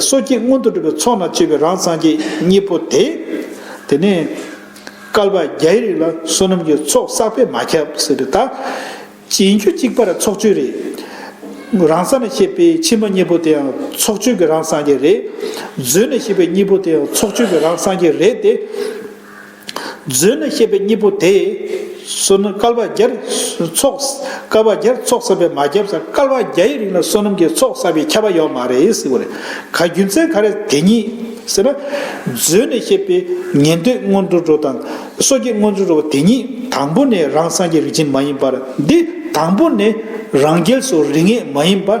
སོ་སྐྱེས་མངོན་དུ་གྲུབ་པའི་ཚོགས་རྣམས་བཅས་པའི་རང་སངས་རྒྱས་གཉིས་པོ་དེ། དེ་ནས་བསྐལ་པ་བརྒྱའི་རིགས་ལ་བསོད་ནམས་ཀྱི་ཚོགས་བསགས་པས་མ་ཁྱབ། ཟེར་བའི་བརྡ། རྗེས་འཇུག་གཅིག་པར་ཚོགས་སྤྱོད་རེ། རང་ས་ནས་བཤད་པའི་ཕྱི་མ་གཉིས་པོ་དེའང་ཚོགས་སྤྱོད་ཀྱི་རང་སངས་རྒྱས་རེ། མཛོད་ནས་བཤད་པའི་གཉིས་པོ་དེའང་ཚོགས་སྤྱོད་ཀྱི་རང་སངས་རྒྱས་རེ་སྟེ། མཛོད་ན་ཤེས་པའི་སྙིང་པོ་དེས། བསོད་ནམས་བསྐལ་པ་བརྒྱར་ཚོགས། བསྐལ་པ་བརྒྱར་ཚོགས་བསགས་པས་མ་ཁྱབ་སར་བསྐལ་པ་བརྒྱའི་རིང་ལ་བསོད་ནམས་ཀྱི་ཚོགས་བསགས་པས་ཁྱབ་པ་ཡོད་མ་རེད་ཟེར་བ་རེད། ག་རྒྱུ་མཚན་ག་རེད་དེ་ཉིད་ཟེར་ན། མཛོད་ནས་ཤེས་པའི་ཉན་ཐོས་སྔོན་འགྲོ་འགྲོ་དང། སོ་སྐྱེ་སྔོན་འགྲོ་འགྲོ་བ་དེ་ཉིད་དང་པོ་ནས་རང་སངས་རྒྱས་རིག་ཅན་མ་ཡིན་པར་འདི་དང་པོ་ནས་རང་རྒྱལ་སོགས་རིག་ངེས་མ་ཡིན་པ།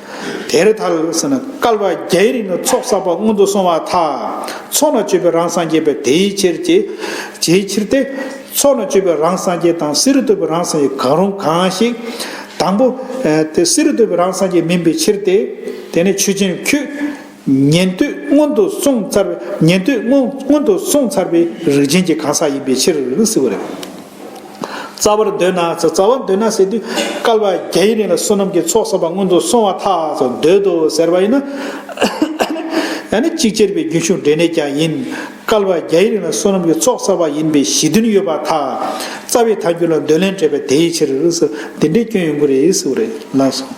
དེར་མཐར་ཟེར་ན་བསྐལ་པ་བརྒྱའི་རིང་ལ་ཚོགས་བསགས་པ་སྔོན་དུ་སོང་བ་དག་ཚོགས་ན་སྤྱོད་པའི་རང་སངས་རྒྱས་པས་དེའི་ཕྱིར་ཅེས་བྱའི་ཕྱིར་ཏེ། ཚོགས་ན་སྤྱོད་པའི་རང་སངས་རྒྱས་དང་བསེ་རུ་གཏོད་པའི་རང་སངས་རྒྱས་གང་རུང་གང་ཞིག། དང་པོ། བསེ་རུ་གཏོད་པའི་རང་སངས་རྒྱས་མིན་པའི་ཕྱིར་ཏེ། དེ་ནས་ཆོས་ཅན་ཁྱོད། ཉན་ཐོས་སྔོན་དུ་སོང་ཚར་བའི་ཉན་ཐོས་སྔོན་དུ་སོང་ཚར་བའི་རིགས་ཅན་གྱི་གང་ཟག་ཡིན་པའི་ཕྱིར་ཟེར་བ་རེད། རྩ་བར་འདོད་ན་ཟེར་རྩ་བར་འདོད་ན་ཟེར་དུས་སྐལ་བ་བརྒྱ་ཡི་རིང་ལ་བསོད་ནམས་ཀྱི་ཚོགས་བསགས་པ་སྔོན་དུ་སོང་བ་ཐག་ཆོད་འདོད་དོ་ཟེར་བ་ཡིན་ན། ནི་གཅིག་ཅེར་བའི་རྒྱུན་ཞུགས་འབྲས་གནས་ཀྱང་ཡིན། སྐལ་བ་བརྒྱ་ཡི་རིང་ལ་བསོད་ནམས་ཀྱི་ཚོགས་བསགས་པ་ཡིན་པའི་གཞི་མཐུན་ཡོད་པ་ཐག་རྩ་བའི་མཐའ་འགྱུར་ལ་འདོད་ལན་སྤྲད་པས་དེའི་ཕྱིར་ཟེར་འདི་འདྲའི་སྐྱོན་ཡོང་གི་རེད་ཟེར་བ་རེད། ལན་སོང།